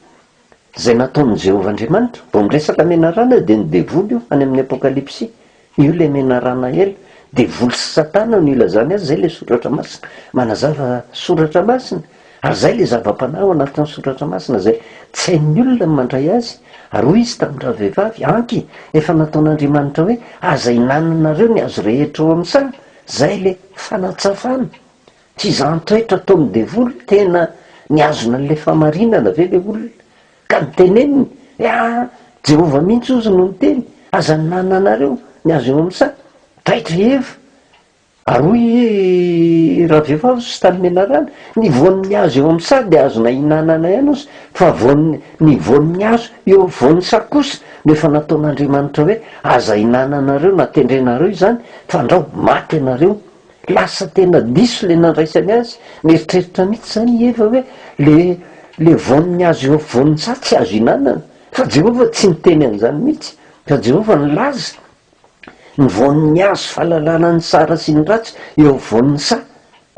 izay nataon'i Jehovah Andriamanitra. Vao miresaka menarana dia ny devoly io any amin'ny Apokalypsy. Io ilay menarana ela. Devoly sy Satana no ilazany azy. Izay ilay Soratra Masina manazava Soratra Masina, ary izay ilay zava-panahy ao anatin'ny Soratra Masina izay tsy hain'ny olona ny mandray azy. Ary hoy izy tamin'ny ravehivavy, Anky, efa nataon'Andriamanitra hoe, Aza ihinananareo ny hazo rehetra ao amin'ny saha, Zay le fanatsafana, tsy za antoetra ataon'ny devoly, tena nihazona an'le famarinana ve le olona ka niteneniny he a! Jehovah mihitsy ozy no niteny, aza ninanina anareo ny azo eo amin'ny saha, taitra i Eva ary hoy i ravehivavy sy tany menarana, ny voan'ny azo eo amin'ny saha dia azo nahinanana ihany ozy fa voan'ny Ny voan'ny hazo eo afovoan'ny saka kosa no efa nataon'Andriamanitra hoe, Aza hinananareo na tendrenareo izany, fandrao maty ianareo. Lasa tena diso ilay nandraisany azy. Nieritreritra mihitsy izany i Eva hoe, Ilay ilay voan'ny hazo eo afovoan'ny saha tsy azo ihinanana. Fa Jehovah tsy niteny an'izany mihitsy, fa Jehovah nilaza. Ny voan'ny hazo fahalalana ny tsara sy ny ratsy eo afovoan'ny saha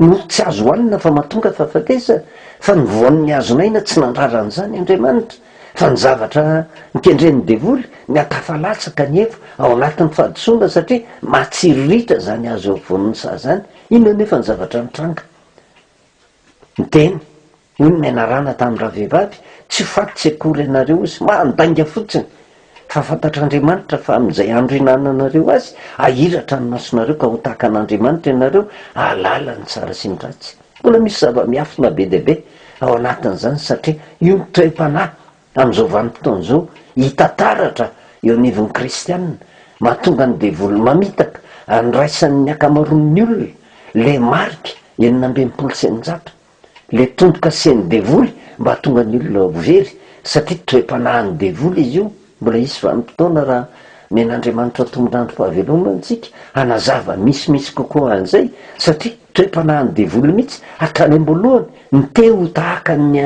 no tsy azo hohanina fa mahatonga fahafatesana, fa ny voan'ny hazon'aina tsy nandrara an'izany Andriamanitra, fa ny zavatra nikendren'ny devoly niha-tafa latsaka ny eva ao anatin'ny fahadisoana satria mahatsiriritra izany hazo eo afovoan'ny saha izany, inona anefa ny zavatra nitranga? Ny teny. Hoy ny menarana tamin'ny ravehivavy, Tsy ho faty tsy akory ianareo hozy, mandainga fotsiny, fa fantatr'Andriamanitra fa amin'izay andro ihinananareo azy, hahiratra ny masonareo ka ho tahaka an'Andriamanitra ianareo, hahalala ny tsara sy ny ratsy. Mbola misy zava-miafina be dia be ao anatin'izany, satria io ny toe-panahy amin'izao vanim-potoana izao hita taratra eo anivon'ny kristiana, mahatonga ny devoly mamitaka an'iraisan'ny ankamaroan'ny olona ilay marika enina amby enimpolo sy eninjato. le tompo kasen'ny devoly mba hahatonga ny olona ho very satria toe-panahin'ny devoly izy io, mbola hisy vanim-potoana raha nen'Andriamanitra tombon'androm-pahavelomana antsika hanazava misimisy kokoa an'izay satria toe-panahin'ny devoly mihitsy hatrany am-boalohany ny te ho tahaka ny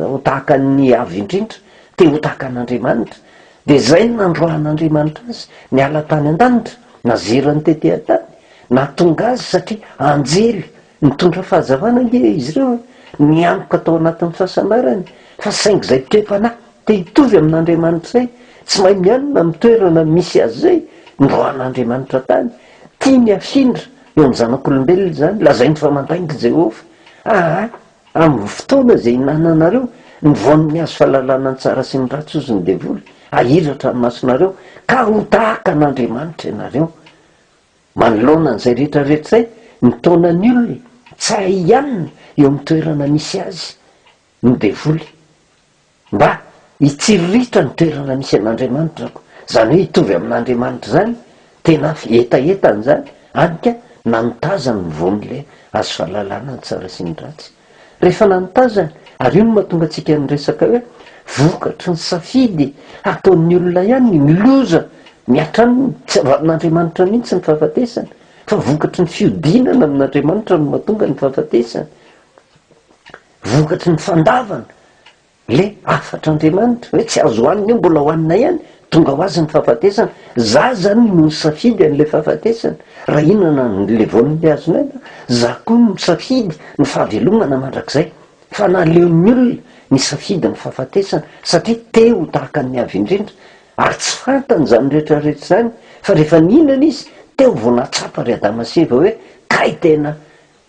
ho tahaka ny Avo indrindra, te ho tahaka an'Andriamanitra, dia izay no nandroahan'Andriamanitra azy niala tany an-danitra, nazeran'ny tetehantany, nahatonga azy satria anjely Nitondra fahazavana ange izy ireo nianoka tao anatin'ny fahasambarany, fa saingy izay toe-panahy te hitovy amin'Andriamanitra izay, tsy mahay mianina amin'ny toerana misy azy izay, noroahan'Andriamanitra tany. Tiany hafindra eo amin'ny zanak'olombelona izany. Lazainy fa mandainga i Jehovah. Aa amin'ny fotoana izay ihinananareo ny voan'ny hazo fahalalana ny tsara sy ny ratsy, hozy ny devoly, hahiratra ny masonareo, ka ho tahaka an'Andriamanitra ianareo. Manoloana an'izay rehetra rehetraizay, ny taonan'ny olona tsara hianina eo amin'ny toerana misy azy ny devoly, mba hitsiriritra ny toerana misy an'Andriamanitra aho, izany hoe hitovy amin'Andriamanitra izany, tena hetahetany izany, hany ka na mitazany ny voan'ilay hazo fahalalana ny tsara sy ny ratsy. rehefa nanotazany ary io no mahatonga antsika niresaka hoe vokatry ny safidy ataon'ny olona ihany ny miloza miatra aminy, tsy avy amin'Andriamanitra mihitsy ny fahafatesana fa vokatry ny fiodinana amin'Andriamanitra no mahatonga ny fahafatesana, vokatry ny fandavana Le hafatra Andriamanitra hoe tsy azo hoanina io mbola hoanina ihany, tonga ho azy ny fahafatesana, za zany no nisafidy anle fahafatesana, raha hihinana anle voanile azonay aho, za koa no nisafidy ny fahavelomana mandrakizay, fa naleon'ny olona nisafidy ny fahafatesana satria te ho tahaka ny Avo indrindra, ary tsy fantany izany rehetra rehetra izany, fa rehefa nihinana izy teo vao nahatsapa ry Adama sy Eva hoe kay tena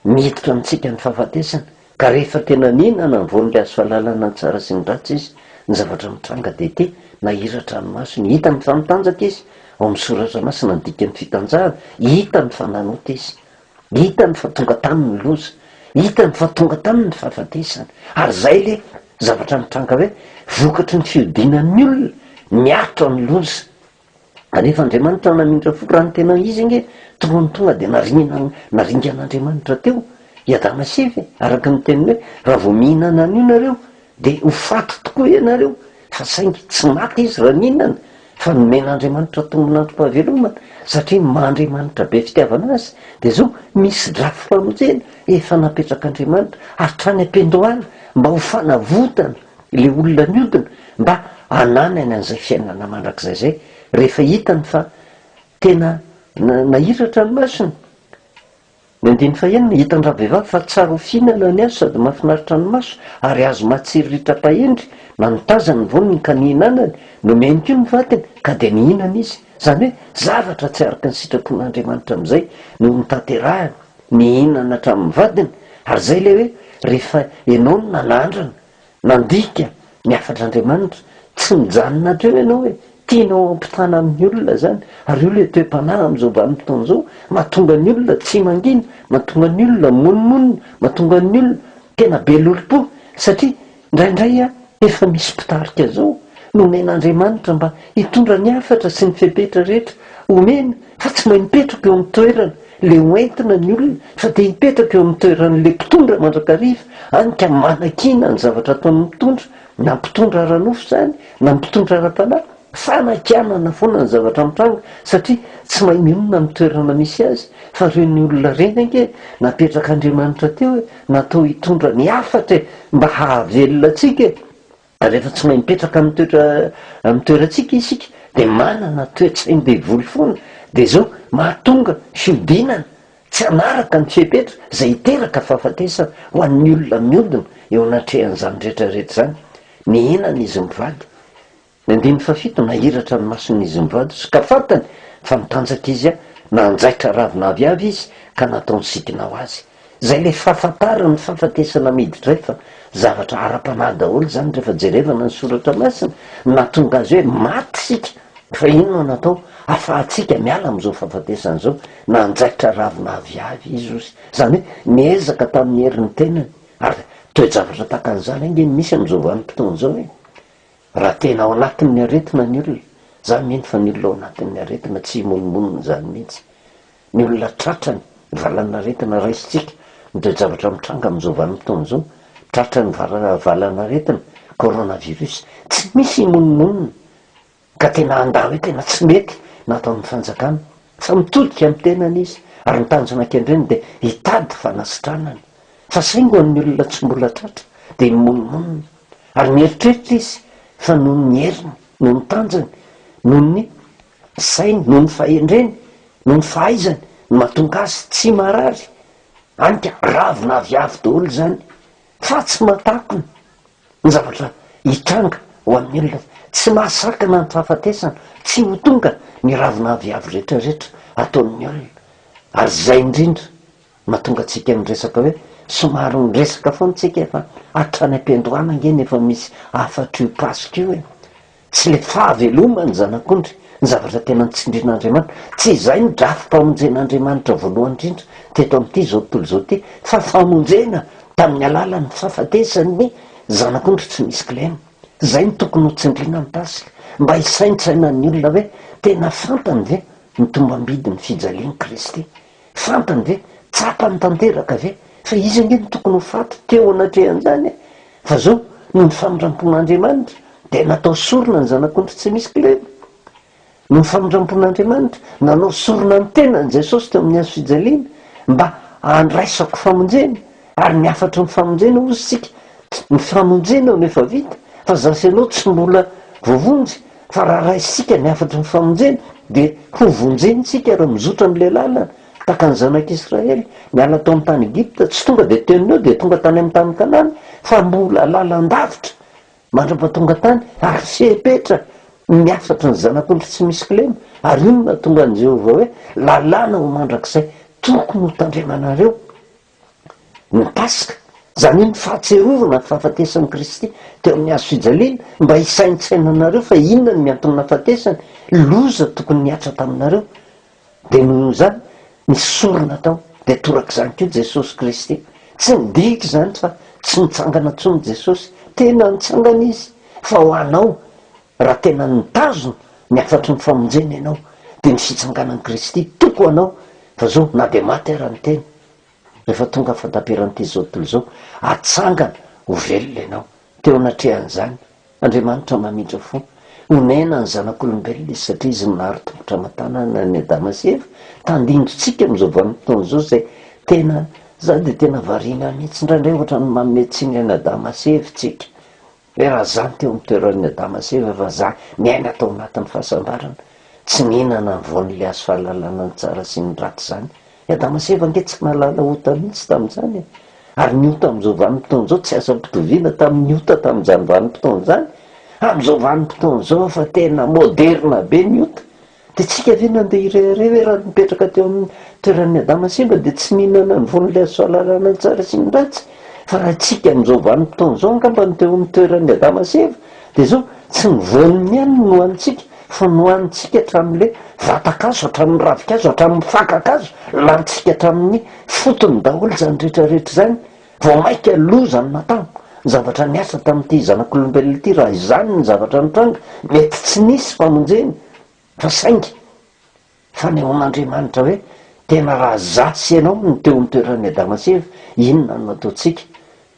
Miditra amintsika ny fahafatesana, ka rehefa tena nihinana ny voan'ny hazo fahalalana ny tsara sy ny ratsy izy, ny zavatra mitranga dia ity, Nahiratra ny masony, hitany fa mitanjaka izy, ao amin'ny Soratra Masina ny dikan'ny fitanjahana, hitany fa nanota izy. Hitany fa tonga taminy ny loza. Hitany fa tonga taminy ny fahafatesana. Ary izay ilay zavatra mitranga hoe vokatry ny fihodinan'ny olona miaritra ny loza. Rehefa Andriamanitra naminitra fo raha ny tena izy ange taloha ny tonga dia nariana naringana Andriamanitra teo i Adama sy Eva e! araka ny teniny hoe raha vao mihinana an'io nareo dia ho faty tokoa ianareo fa saingy tsy maty izy raha nihinana fa nomen'Andriamanitra tombin'androm-pahavelomana satria maha Andriamanitra be fitiavana azy dia zao misy drafi-pamonjena efa napetrak'Andriamanitra hatrany am-pendohala mba ho fanavotana Ilay olona niodina mba hananany an'izay fiainana mandrakizay izay, rehefa hitany fa tena nahiratra ny masony. Ny andininy fahenina, hitan'ny ravehivavy fa tsara ho fihinana ny azy sady mahafinaritra ny maso, ary azo mahatsiriritra-pahendry, na ny tazany, ny voniny ka nihinanany. Nomeny koa ny vatiny, ka dia nihinana izy. Izany hoe zavatra tsy araka ny sitrapon'Andriamanitra amin'izay no notanterahiny. Nihinana hatramin'ny vadiny, ary izay ilay hoe rehefa ianao no nanandrana, nandika ny hafatr'Andriamanitra, tsy mijanona hatreo ianao hoe tianao hampitana amin'ny olona izany, ary io ilay toe-panahy amin'izao vanim-potoana izao mahatonga ny olona tsy mangina, mahatonga ny olona monomonona, mahatonga ny olona tena be lolompo, satria Indraindray efa misy mpitarika zao nomen'Andriamanitra mba hitondra ny hafatra sy ny fepetra rehetra omeny fa tsy mahay mipetraka eo amin'ny toerany le ho entina ny olona fa te hipetraka eo amin'ny toeran'le mpitondra mandrakariva any ka manakiana ny zavatra ataon'ny mpitondra na mpitondra ara-nofo zany na mpitondra ara-panahy Fanakianana foana ny zavatra mitranga satria tsy mahay mionona amin'ny toerana misy azy fa ireny olona ireny ange e! napetrak'Andriamanitra teo e! natao hitondra ny hafatra e! mba hahavelona antsika e! rehefa tsy mahay mipetraka amin'ny toetra amin'ny toerantsika isika dia manana toetsain-devoly foana dia zao mahatonga fiodinana tsy hanaraka ny fepetra izay hiteraka fahafatesana ho an'ny olona miodina eo anatrehan'izany rehetra rehetra izany mihinana izy mivady Ny andininy fahafito, Nahiratra ny mason'i Izimrôdys ka fantany fa nitanjaka izy, nanjaitra ravin'aviavy izy ka nataony sidina ho azy. Izay ilay fahafantarana ny fahafatesana miditra efa zavatra ara-panahy daholo izany rehefa jerevana ny soratra masina, nahatonga azy hoe maty isika fa inona no atao afahantsika miala amin'izao fahafatesana izao, nanjaitra ravin'aviavy izy ozy, izany hoe niezaka tamin'ny herin'ny tenany, ary toe-javatra tahaka an'izany ange no misy amin'izao vanim-potoana izao e! Raha tena ao anatin'ny aretina ny olona, za mino fa ny olona ao anatin'ny aretina tsy himonomonona izany mihitsy. Ny olona tratra ny valan'aretina raisintsika ny toe-javatra mitranga amin'izao vanim-potoana izao, tratra ny valan'aretina coronavirus, tsy misy himonomonona ka tena handà hoe tena tsy mety ny ataon'ny fanjakana. Fa mitodika amin'ny tenany izy ary ny tanjona kendreny dia hitady fanasitranana. Fa saingy ho an'ny olona tsy mbola tratra dia himonomonona. ary mieritreritra izy fa noho ny heriny, noho ny tanjany, noho ny sainy, noho ny fahendreny, noho ny fahaizany no mahatonga azy tsy marary, hany ka ravina avy avo daholo izany, fa tsy mahatakona ny zavatra hitranga ho amin'ny olona, tsy mahasakana ny fahafatesana, tsy ho tonga ny ravina avy avo rehetrarehetra ataon'ny olona, ary izay indrindra Mahatonga antsika miresaka hoe somary miresaka foana tsika fa hatrany am-piandohana ange ny efa misy hafatr' io Paska io e! Tsy le fahaveloman' ny Zanak'ondry ny zavatra tena notsindrin' Andriamanitra, tsy izay no drafi-pamonjen' Andriamanitra voalohany indrindra teto amin' ity izao tontolo izao ity fa famonjena tamin' ny alalan' ny fahafatesan' ny Zanak'ondry tsy misy kilema. Izay no tokony hotsindriana ny Paska mba hisaintsainan' ny olona hoe tena fantany ve ny tombambidin' ny fijalian' i Kristy Fantany ve? Tsapany tanteraka ve? Fa izy ange no tokony ho faty teo anatrehan'izany e! Fa zao, noho ny famindrampon'Andriamanitra, dia natao sorona ny Zanak'ondry tsy misy kilema. Noho ny famindrampon'Andriamanitra, nanao sorona ny tenany Jesosy teo amin'ny hazo fijaliana, mba handraisako famonjena. ary ny hafatry ny famonjena hozy isika ny famonjena no efa vita fa za sy anao tsy mbola voavonjy fa raha raisika ny hafatry ny famonjena dia ho vonjentsika raha mizotra amin'ilay lalana taka ny zanak'i Israely niala tao amin'ny tany Egypta tsy tonga dia teo neo dia tonga tany amin'ny tany Kanana fa mbola lalandavitra mandra-patonga tany ary fepetra ny hafatry ny zanak'ondry tsy misy kilema ary io no natonga an'i Jehovah hoe lalàna ho mandrakizay tokony ho tandremanareo na Paska, izany hoe ny fahatsiarovana ny fahafatesan'i Kristy teo amin'ny hazo fijaliana, mba hisaintsainanareo fa inona no mianton'ny nahafatesany, loza tokony nihatra taminareo, dia noho izany ny sorona tao, dia torak'izany koa Jesosy Kristy. Tsy nidika izany fa tsy nitsangana intsony Jesosy, tena nitsangana Izy, fa ho anao Raha tena nitazona ny hafatry ny famonjena ianao dia ny fitsanganan'i Kristy toko ho anao fa zao na dia maty ara ny tena rehefa tonga fataperan'ity zao tontolo zao atsangana ho velona ianao teo anatrehan'izany Andriamanitra mamindra fo onena ny zanak'olombelona izy satria izy no nahary tongotra aman-tanana an'i Adama sy Eva tandindotsika amin'izao vanim-potoana izao izay tena za dia tena variana mihitsy indraindray ohatran'ny manome tsiny an'i Adama sy Eva tsika Hoe raha izaho no teo amin'ny toeran'i Adama sy Eva efa izaho niaina tao anatin'ny fahasambarana, tsy nihinana ny voan'ilay hazo fahalalana ny tsara sy ny ratsy izany. I Adama sy Eva ange tsy nahalala ota mihitsy tamin'izany e! Ary ny ota amin'izao vanim-potoana izao tsy azo ampitoviana tamin'ny ota tamin'izany vanim-potoana izany. Amin'izao vanim-potoana izao efa tena moderina be ny ota. Dia tsika ve nandeha ireharehà hoe raha nipetraka teo amin'ny toeran'i Adama simba dia tsy nihinana ny von'ilay hazo fahalalana ny tsara sy ny ratsy? Fa raha tsika amin'izao vanim-potoana izao angamba no teo amin'ny toeran'i Adama sy Eva dia izao, tsy ny voaniny ihany no nohanintsika fa nohanintsika hatramin'ilay vatan-kazo, hatramin'ny ravin-kazo, hatramin'ny fakan-kazo, lanintsika hatramin'ny fotony daholo izany rehetra rehetra izany. Vao maika loza ny natao. Ny zavatra niasa tamin'ity zanak'olombelona ity, raha izany ny zavatra nitranga, mety tsy nisy famonjena, fa saingy fanehoan'Andriamanitra hoe, tena raha izaho sy ianao no teo amin'ny toeran'i Adama sy Eva, inona no ataontsika?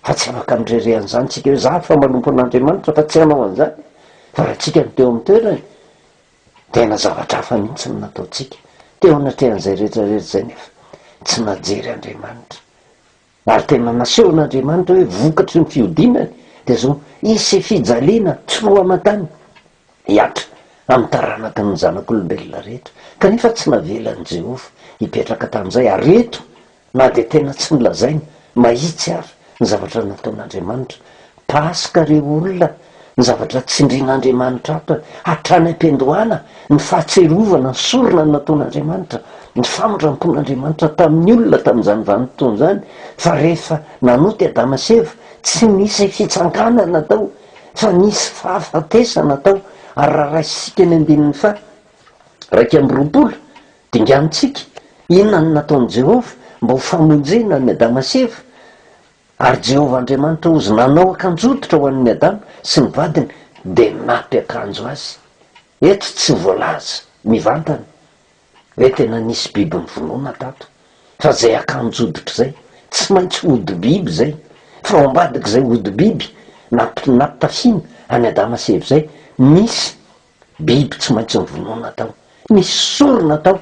Fa tsy afaka mirehareha an'izany isika hoe, izaho efa manompo an'Andriamanitra fa tsy hanao an'izany. Fa raha isika no teo amin'ny toerany, tena zavatra hafa mihitsy no nataontsika. Teo anatrehan'izay rehetra rehetra izay nefa, tsy najery Andriamanitra. ary tena nasehon'Andriamanitra hoe vokatry ny fihodinany dia izao, hisy fijaliana tsy roa aman-tany hihatra amin'ny taranaky ny zanak'olombelona rehetra, kanefa tsy navelan'i Jehovah hipetraka tamin'izay, ary eto, na dia tena tsy nolazaina mahitsy àry ny zavatra nataon'Andriamanitra, Paska re olona, ny zavatra tsindrian'Andriamanitra ato hatrany am-piandohana, ny fahatsiarovana ny sorona nataon'Andriamanitra, ny famindrampon'Andriamanitra tamin'ny olona tamin'izany vanim-potoana izany, fa rehefa nanota i Adama sy Eva, tsy nisy fitsanganana tao, fa nisy fahafatesana tao, ary raha raisintsika ny andininy faha iraika amby roapolo, dinganintsika, inona no nataon'i Jehovah mba ho famonjena an'i Adama sy Eva? Ary Jehovah Andriamanitra ozy nanao akanjototra ho an'ny Adama sy ny vadiny dia nampiakanjo azy. Eto tsy voalaza mivantana hoe tena nisy biby novonoina tato, fa izay akanjo hoditra izay, tsy maintsy hodi-biby izay, fa ao ambadik'izay hodi-biby nampi-nampitafina an'i Adama sy Eva izay, nisy Biby tsy maintsy novonoina tao. Nisy sorona tao.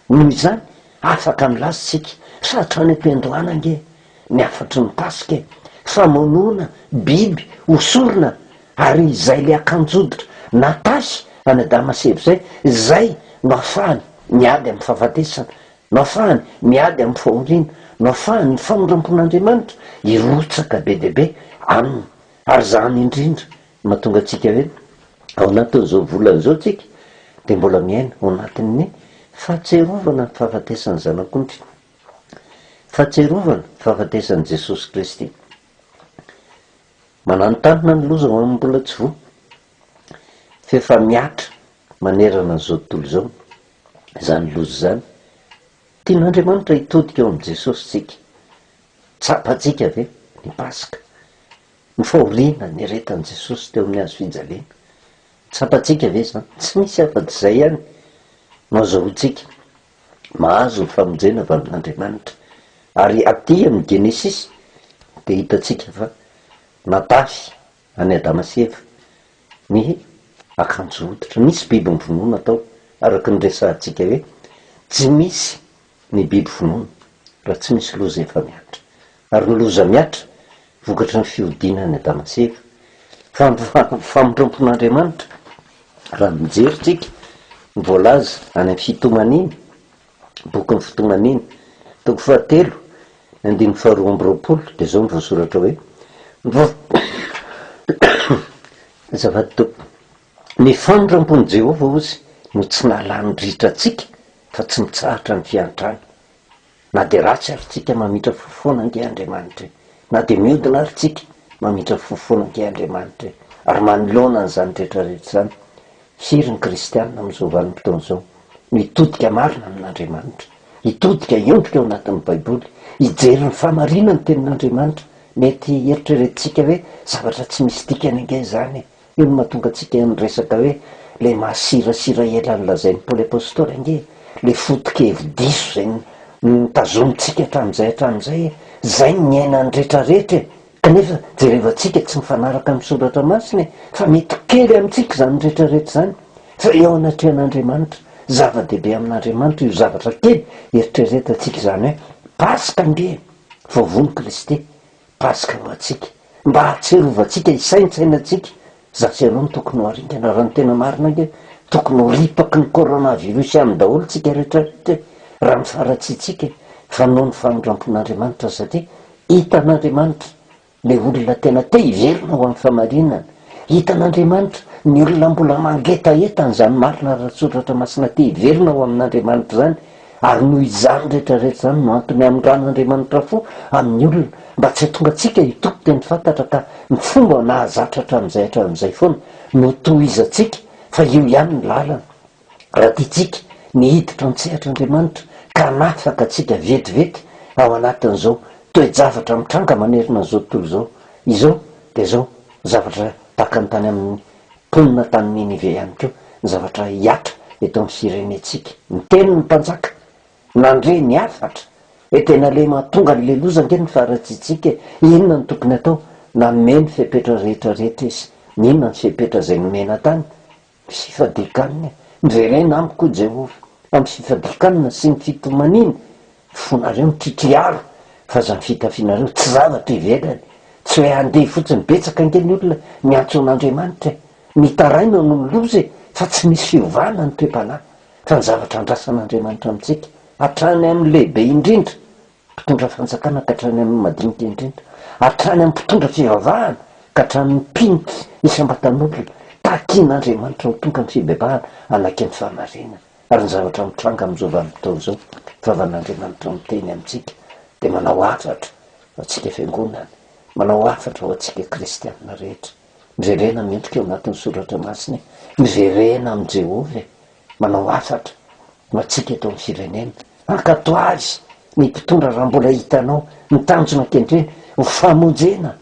Noho izany, afaka milaza isika, Sa hatrany am-piandohana ange ny hafatry ny Paska e! Famonoana biby ho sorona, ary izay ilay akanjo-hoditra natahy an'i Adama sy Eva izay, izay no ahafahany miady amin'ny fahafatesana, no ahafahany miady amin'ny fahoriana, no ahafahan'ny famindram-pon'Andriamanitra hirotsaka be dia be aminy, ary izany indrindra Mahatonga antsika hoe ao anatin'izao volana izao tsika dia mbola miaina ao anatin'ny fahatsiarovana ny fahafatesan'ny Zanak'ondry, fahatsiarovana ny fahafatesan'i Jesosy Kristy. Mananontanona ny loza ho an'ny mbola tsy voa, f'efa mihatra manerana an'izao tontolo izao izany loza izany. Tian'Andriamanitra hitodika ao amin'i Jesosy isika. Tsapantsika ve ny Paska? Ny fahoriana nieretan'i Jesosy teo amin'ny hazo fijaliana. Tsapantsika ve izany? Tsy misy afa-tsy izay ihany no azahoantsika mahazo ny famonjena avy amin'Andriamanitra. Ary aty amin'ny Genesisy dia hitantsika fa natafy an'i Adama sy Eva ny akanjo hoditra. Nisy biby nivonona tao, araka ny resahantsika hoe tsy misy Ny biby vonoina raha tsy misy loza efa mihatra. Ary ny loza mihatra, vokatry ny fihodinan'i Adama sy Eva. Fa ny famotram-pon'Andriamanitra, raha mijery tsika ny voalaza any amin'ny Fitomaniana, bokin'ny Fitomaniana, toko fahatelo, andininy faharoa amby roapolo, dia izao no voasoratra hoe, Ny vavolombelona dia zava-dehibe. Ny famindrampon'i Jehovah, hozy, no tsy nahalany ritra antsika, fa tsy mitsahatra ny fiantrana. Na dia ratsy àry tsika, mamindra fo foana ange Andriamanitra. Na dia miodina àry tsika, mamindra fo foana ange Andriamanitra. Ary manoloana an'izany rehetra rehetra izany, firy ny kristiana amin'izao vanim-potoana izao no hitodika marina amin'Andriamanitra, hitodika hiondrika ao anatin'ny Baiboly, hijery ny fahamarinan'ny Tenin'Andriamanitra? Mety heritreretintsika hoe zavatra tsy misy dikany ange izany e! Io no mahatonga antsika niresaka hoe ilay masirasira ela nolazain'i Paoly Apostoly ange, ilay foto-kevi-diso izay notazomintsika hatramin'izay hatramin'izay e! Izay no niainan'ny rehetrarehetra e! Kanefa jerevantsika tsy mifanaraka amin'ny Soratra Masina e! Fa mety kely amintsika izany rehetrarehetra izany, fa eo anatrehan'Andriamanitra, zava-dehibe amin'Andriamanitra io zavatra kely eritreretantsika izany hoe, Paska ange e! Vao von'i Kristy, Paska ho antsika, mba hahatsiarovantsika hisaintsainantsika, za sy ianao no tokony ho aringana raha ny tena marina ange tokony ho ripaky ny coronavirus any daholo tsika rehetra rehetra e! raha ny faharatsiantsika e! fa noho ny famindrampon'Andriamanitra sady hitan'Andriamanitra le olona tena te hiverina ho amin'ny famarinana, hitan'Andriamanitra ny olona mbola mangetaheta an'izany marina ara-tsoratra masina te hiverina ho amin'Andriamanitra izany, Ary noho izany rehetra rehetra izany no antony hamindrana Andriamanitra fo amin'ny olona mba tsy hahatonga antsika hitoky teny fantatra ka ny fomba nahazatra hatramin'izay hatramin'izay foana no hotohizantsika fa io ihany ny lalana raha tiantsika ny hiditra an-tsehatr'Andriamanitra ka hanafaka antsika vetivety ao anatin'izao toe-javatra mitranga manerana an'izao tontolo izao izao dia izao zavatra takany tany amin'ny Mponina tany Ninive ihany koa ny zavatra hihatra eto amin'ny firenentsika. Niteny ny mpanjaka, nandre ny hafatra. Hoe tena le mahatonga an'le loza ange ny faharatsiantsika e! Inona no tokony atao? Nanome ny fepetra rehetra rehetra izy. Inona ny fepetra izay nomena tany? Ny fifadian-kanina e! Miverena amiko hoy Jehovah, amin'ny fifadian-kanina sy ny fitomaniana. fonareo mitritriaro fa zany fitafinareo tsy zavatra ivelany tsy hoe handeha fotsiny betsaka ange ny olona miantso an'Andriamanitra e! mitaraina noho ny loza e! fa tsy misy fiovana ny toe-panahy fa ny zavatra andrasan'Andriamanitra amintsika hatrany amin'ny lehibe indrindra mpitondra fanjakana ka hatrany amin'ny madinika indrindra hatrany amin'ny mpitondra fivavahana ka hatramin'ny mpino isam-batan'olona takian'Andriamanitra ho tonga ny fibebahana hanaiky ny fahamarinana Ary ny zavatra mitranga amin'izao vanim-potoana izao, Vavan'Andriamanitra miteny amintsika, dia manao hafatra ho antsika Fiangonana, manao hafatra ho antsika kristiana rehetra. Miverena mendrika ao anatin'ny Soratra Masina e! Miverena amin'i Jehovah e! Manao hafatra ho antsika eto amin'ny firenena. Ankatò azy ny mpitondra raha mbola hitanao ny tanjona ankehitriny, ho famonjena.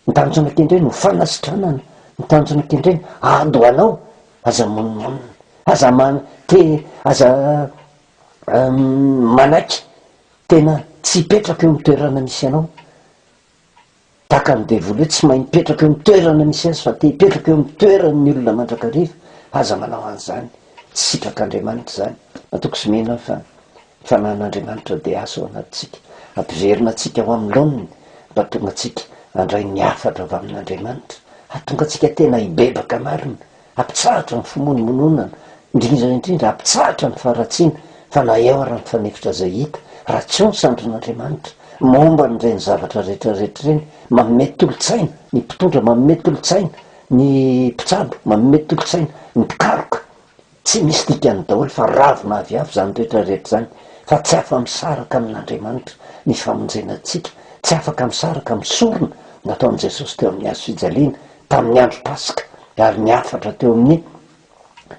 Ny tanjona kendreny ho fanasitranana, ny tanjona kendreny ady ho anao, aza monimonina, aza man te aza manaiky tena tsy hipetraka eo amin'ny toerana misy anao, tahaka an'i devoly hoe tsy mahay mipetraka eo amin'ny toerana misy azy fa te hipetraka eo amin'ny toeran'ny olona mandrakariva, aza manao an'izany, tsy sitrak'Andriamanitra izany, matoky sy mino aho fa Ny Fanahin'Andriamanitra DH ao anatintsika, hampiverina antsika ho amin'ny laoniny, hampatonga antsika handray ny hafatra avy amin'Andriamanitra, hahatonga antsika tena hibebaka marina, hampitsahatra ny fimonomononana, indrindra indrindra hampitsahatra ny faharatsiana, fa na eo ary ny fanefitra izay hita, raha tsy eo ny sandrin'Andriamanitra, momba an'ireny zavatra rehetra rehetra ireny, manome tolo-tsaina ny mpitondra, manome tolo-tsaina ny mpitsabo, manome tolo-tsaina ny mpikaroka, Tsy misy dikany daholo fa ravina avy hafa izany rehetra rehetra izany fa tsy afa misaraka amin Andriamanitra ny famonjena antsika, tsy afaka misaraka amin'ny sorona nataon'i Jesosy teo amin'ny hazo fijaliana tamin'ny andro paska ary ny hafatra teo amin'ny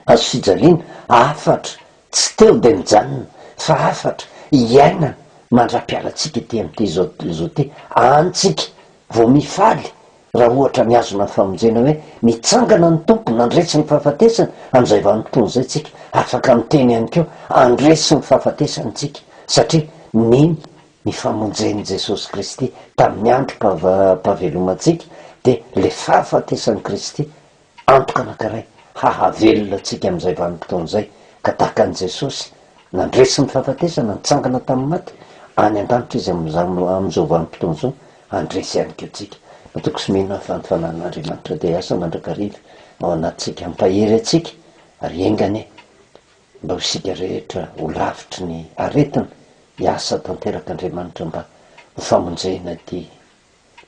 hazo fijaliana, hafatra tsy teo dia nijanona fa hafatra iainana mandra-pialantsika ity amin'ity zao tontolo izao ity, antsika vao mifaly raha ohatra mihazona ny famonjena hoe mitsangana ny Tompo nandresy ny fahafatesana amin'izay vanim-potoana izay tsika, afaka miteny ihany koa handresy ny fahafatesana isika satria nino ny famonjen'i Jesosy Kristy tamin'ny androm-pahavelomantsika dia ilay fahafatesan'i Kristy Antoka anankiray hahavelona antsika amin'izay vanim-potoana izay, ka tahaka an'i Jesosy, nandresy ny fahafatesana, nitsangana tamin'ny maty, any an-danitra Izy amin'izao, amin'izao vanim-potoana izao, handresy ihany koa antsika. Matoky sy mino aho fa ny Fanahin'Andriamanitra dia hiasa mandrakariva ao anatintsika, hampahery antsika, ary enga anie mba ho isika rehetra ho lavitry ny aretina, hiasa tanteraka Andriamanitra mba ho famonjena ity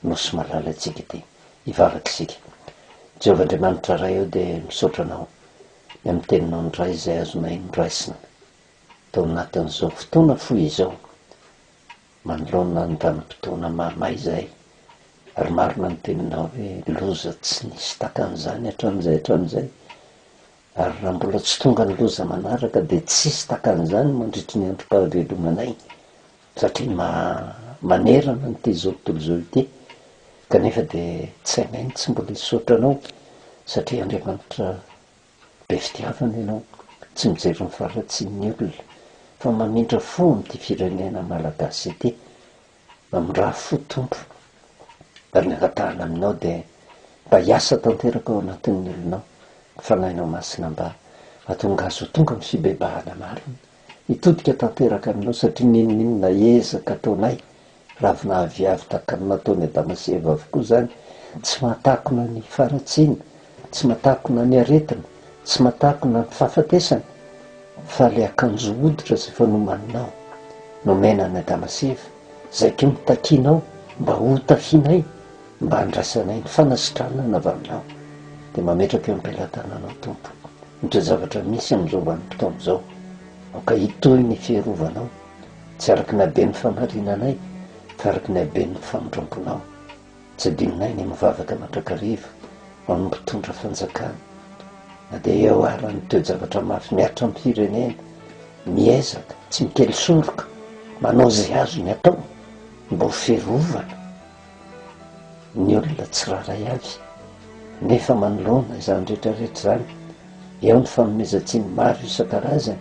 Nosy malala antsika ity hivavaka isika. Jehovah Andriamanitra Ray o dia misaotra Anao ny amin'ny Teninao indray izay azonay noraisina tao anatin'izao fotoana fohy izao manoloana ny vanim-potoana mahamay izay ary marina ny Teninao hoe loza tsy nisy takan'izany hatramin'izay hatramin'izay ary raha mbola tsy tonga ny loza manaraka dia tsy hisy takan'izany mandritry ny androm-pahavelomanay Satria ma, manerana an' ity zao tontolo zao ity, kanefa dia tsy hainay ny tsy mbola hisaotra Anao, satria Andriamanitra be fitiavana Ianao, tsy mijery ny faharatsian' ny olona, fa mamindra fo amin' ity firenena Malagasy ity, mamindraha fo Tompo, ary ny angatahana Aminao dia mba hiasa tanteraka ao anatin' ny olonao ny Fanahinao Masina mba hahatonga azy ho tonga amin' ny fibebahana marina, Hitodika tanteraka aminao satria n'inon'inona ezaka ataonay, ravinaviavy tahaka ny nataon'i Adama sy Eva avokoa izany, tsy mahatakona ny faharatsiana, tsy mahatakona ny aretina, tsy mahatakona ny fahafatesana, fa ilay akanjo hoditra izay efa nomaninao, nomena an'i Adama sy Eva, izay koa no takianao mba hotafianay, Mba andrasanay ny fanasitranana avy Aminao, dia mametraka eo am-pelatananao, Tompo, ny toe-javatra misy amin'izao vanim-potoana izao. Aoka hitohy ny fierovanao, tsy araka ny haben'ny famarinanay, fa araka ny haben'ny famindramponao. Tsy adinonay ny mivavaka mandrakariva ho an'ny Mpitondra Fanjakana, na dia eo ara ny toe-javatra mafy mihatra amin'ny firenena. Miezaka, tsy mikely soroka, manao izay azony atao mba ho fierovana Ny olona tsirairay avy nefa manoloana izany rehetrarehetra izany, eo ny fanomezan-tsiny maro isan-karazany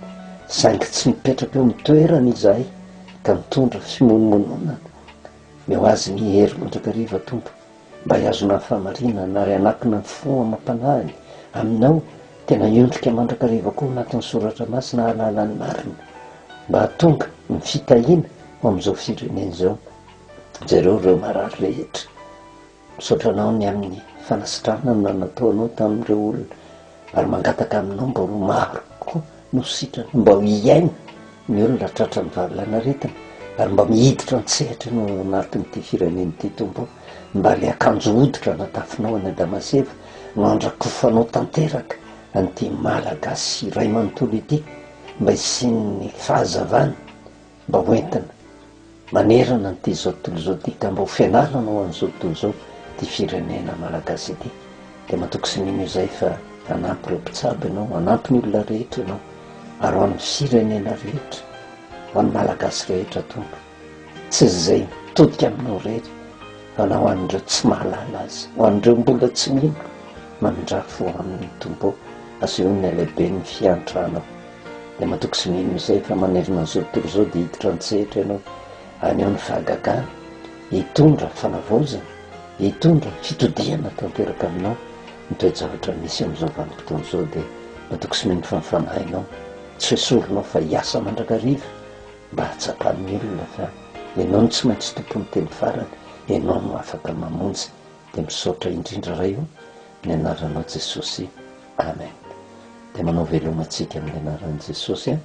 saingy tsy mipetraka eo amin'ny toerany izahay ka mitondra fimonomononana, ny ho azy ny hery mandrakariva Tompo mba hihazonany fahamarinana ary hanakina ny fo amam-panahiny Aminao tena hiondrika mandrakariva koa anatin'ny soratra masina hahalala ny marina mba hahatonga ny fitahiana ho amin'izao firenena izao. Jereo ireo marary rehetra. Misaotra anao ny amin'ny fanasitranana nataonao tamin'ireo olona ary mangataka aminao mba ho maro koa no sitrana mba ho hiaina ny olona tratran'ny valanaretina ary mba mihiditra an-tsehatra no anatin'ity firenena ity tompo mba le akanjo hoditra natafinao any Adamaseva no andrakofanao tanteraka an'ity malagasy iray manontolo ity mba hisian'ny fahazavana Mba ho entina manerana an'ity izao tontolo izao ity ka mba ho fianarana ho an'izao tontolo izao ity firenena malagasy ity dia matoky sy mino izay fa hanampy ireo mpitsabo ianao, hanampy ny olona rehetra ianao ary ho an'ny firenena rehetra, ho an'ny malagasy rehetra Tompo. Tsy izay mitodika aminao irery fa na ho an'ireo tsy mahalala azy, ho an'ireo mbola tsy mino, mamindrafo aminy Tompo ô, asehoy ny halehiben'ny fiantranao. Dia matoky sy mino izay fa manerana an'izao tontolo izao dia hiditra an-tsehatra ianao, haneho ny fahagagana, hitondra fanavaozana, hitondra fitodihana tanteraka aminao ny toe-javatra misy amin'izao vanim-potoana izao dia matoky sy mino fa ny fanahinao tsy ho esorinao fa hiasa mandrakariva mba hahatsapan'ny olona fa ianao no tsy maintsy tompon'ny teny farany, ianao no afaka mamonjy. Dia misaotra indrindra Ray ô, ny anaranao Jesosy. Amen de manao veloma antsika amin'ny anaran'i Jesosy a,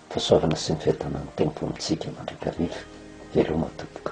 fahasoavana sy ny fiadanan'ny Tompo amintsika mandrakariva, veloma tompoko.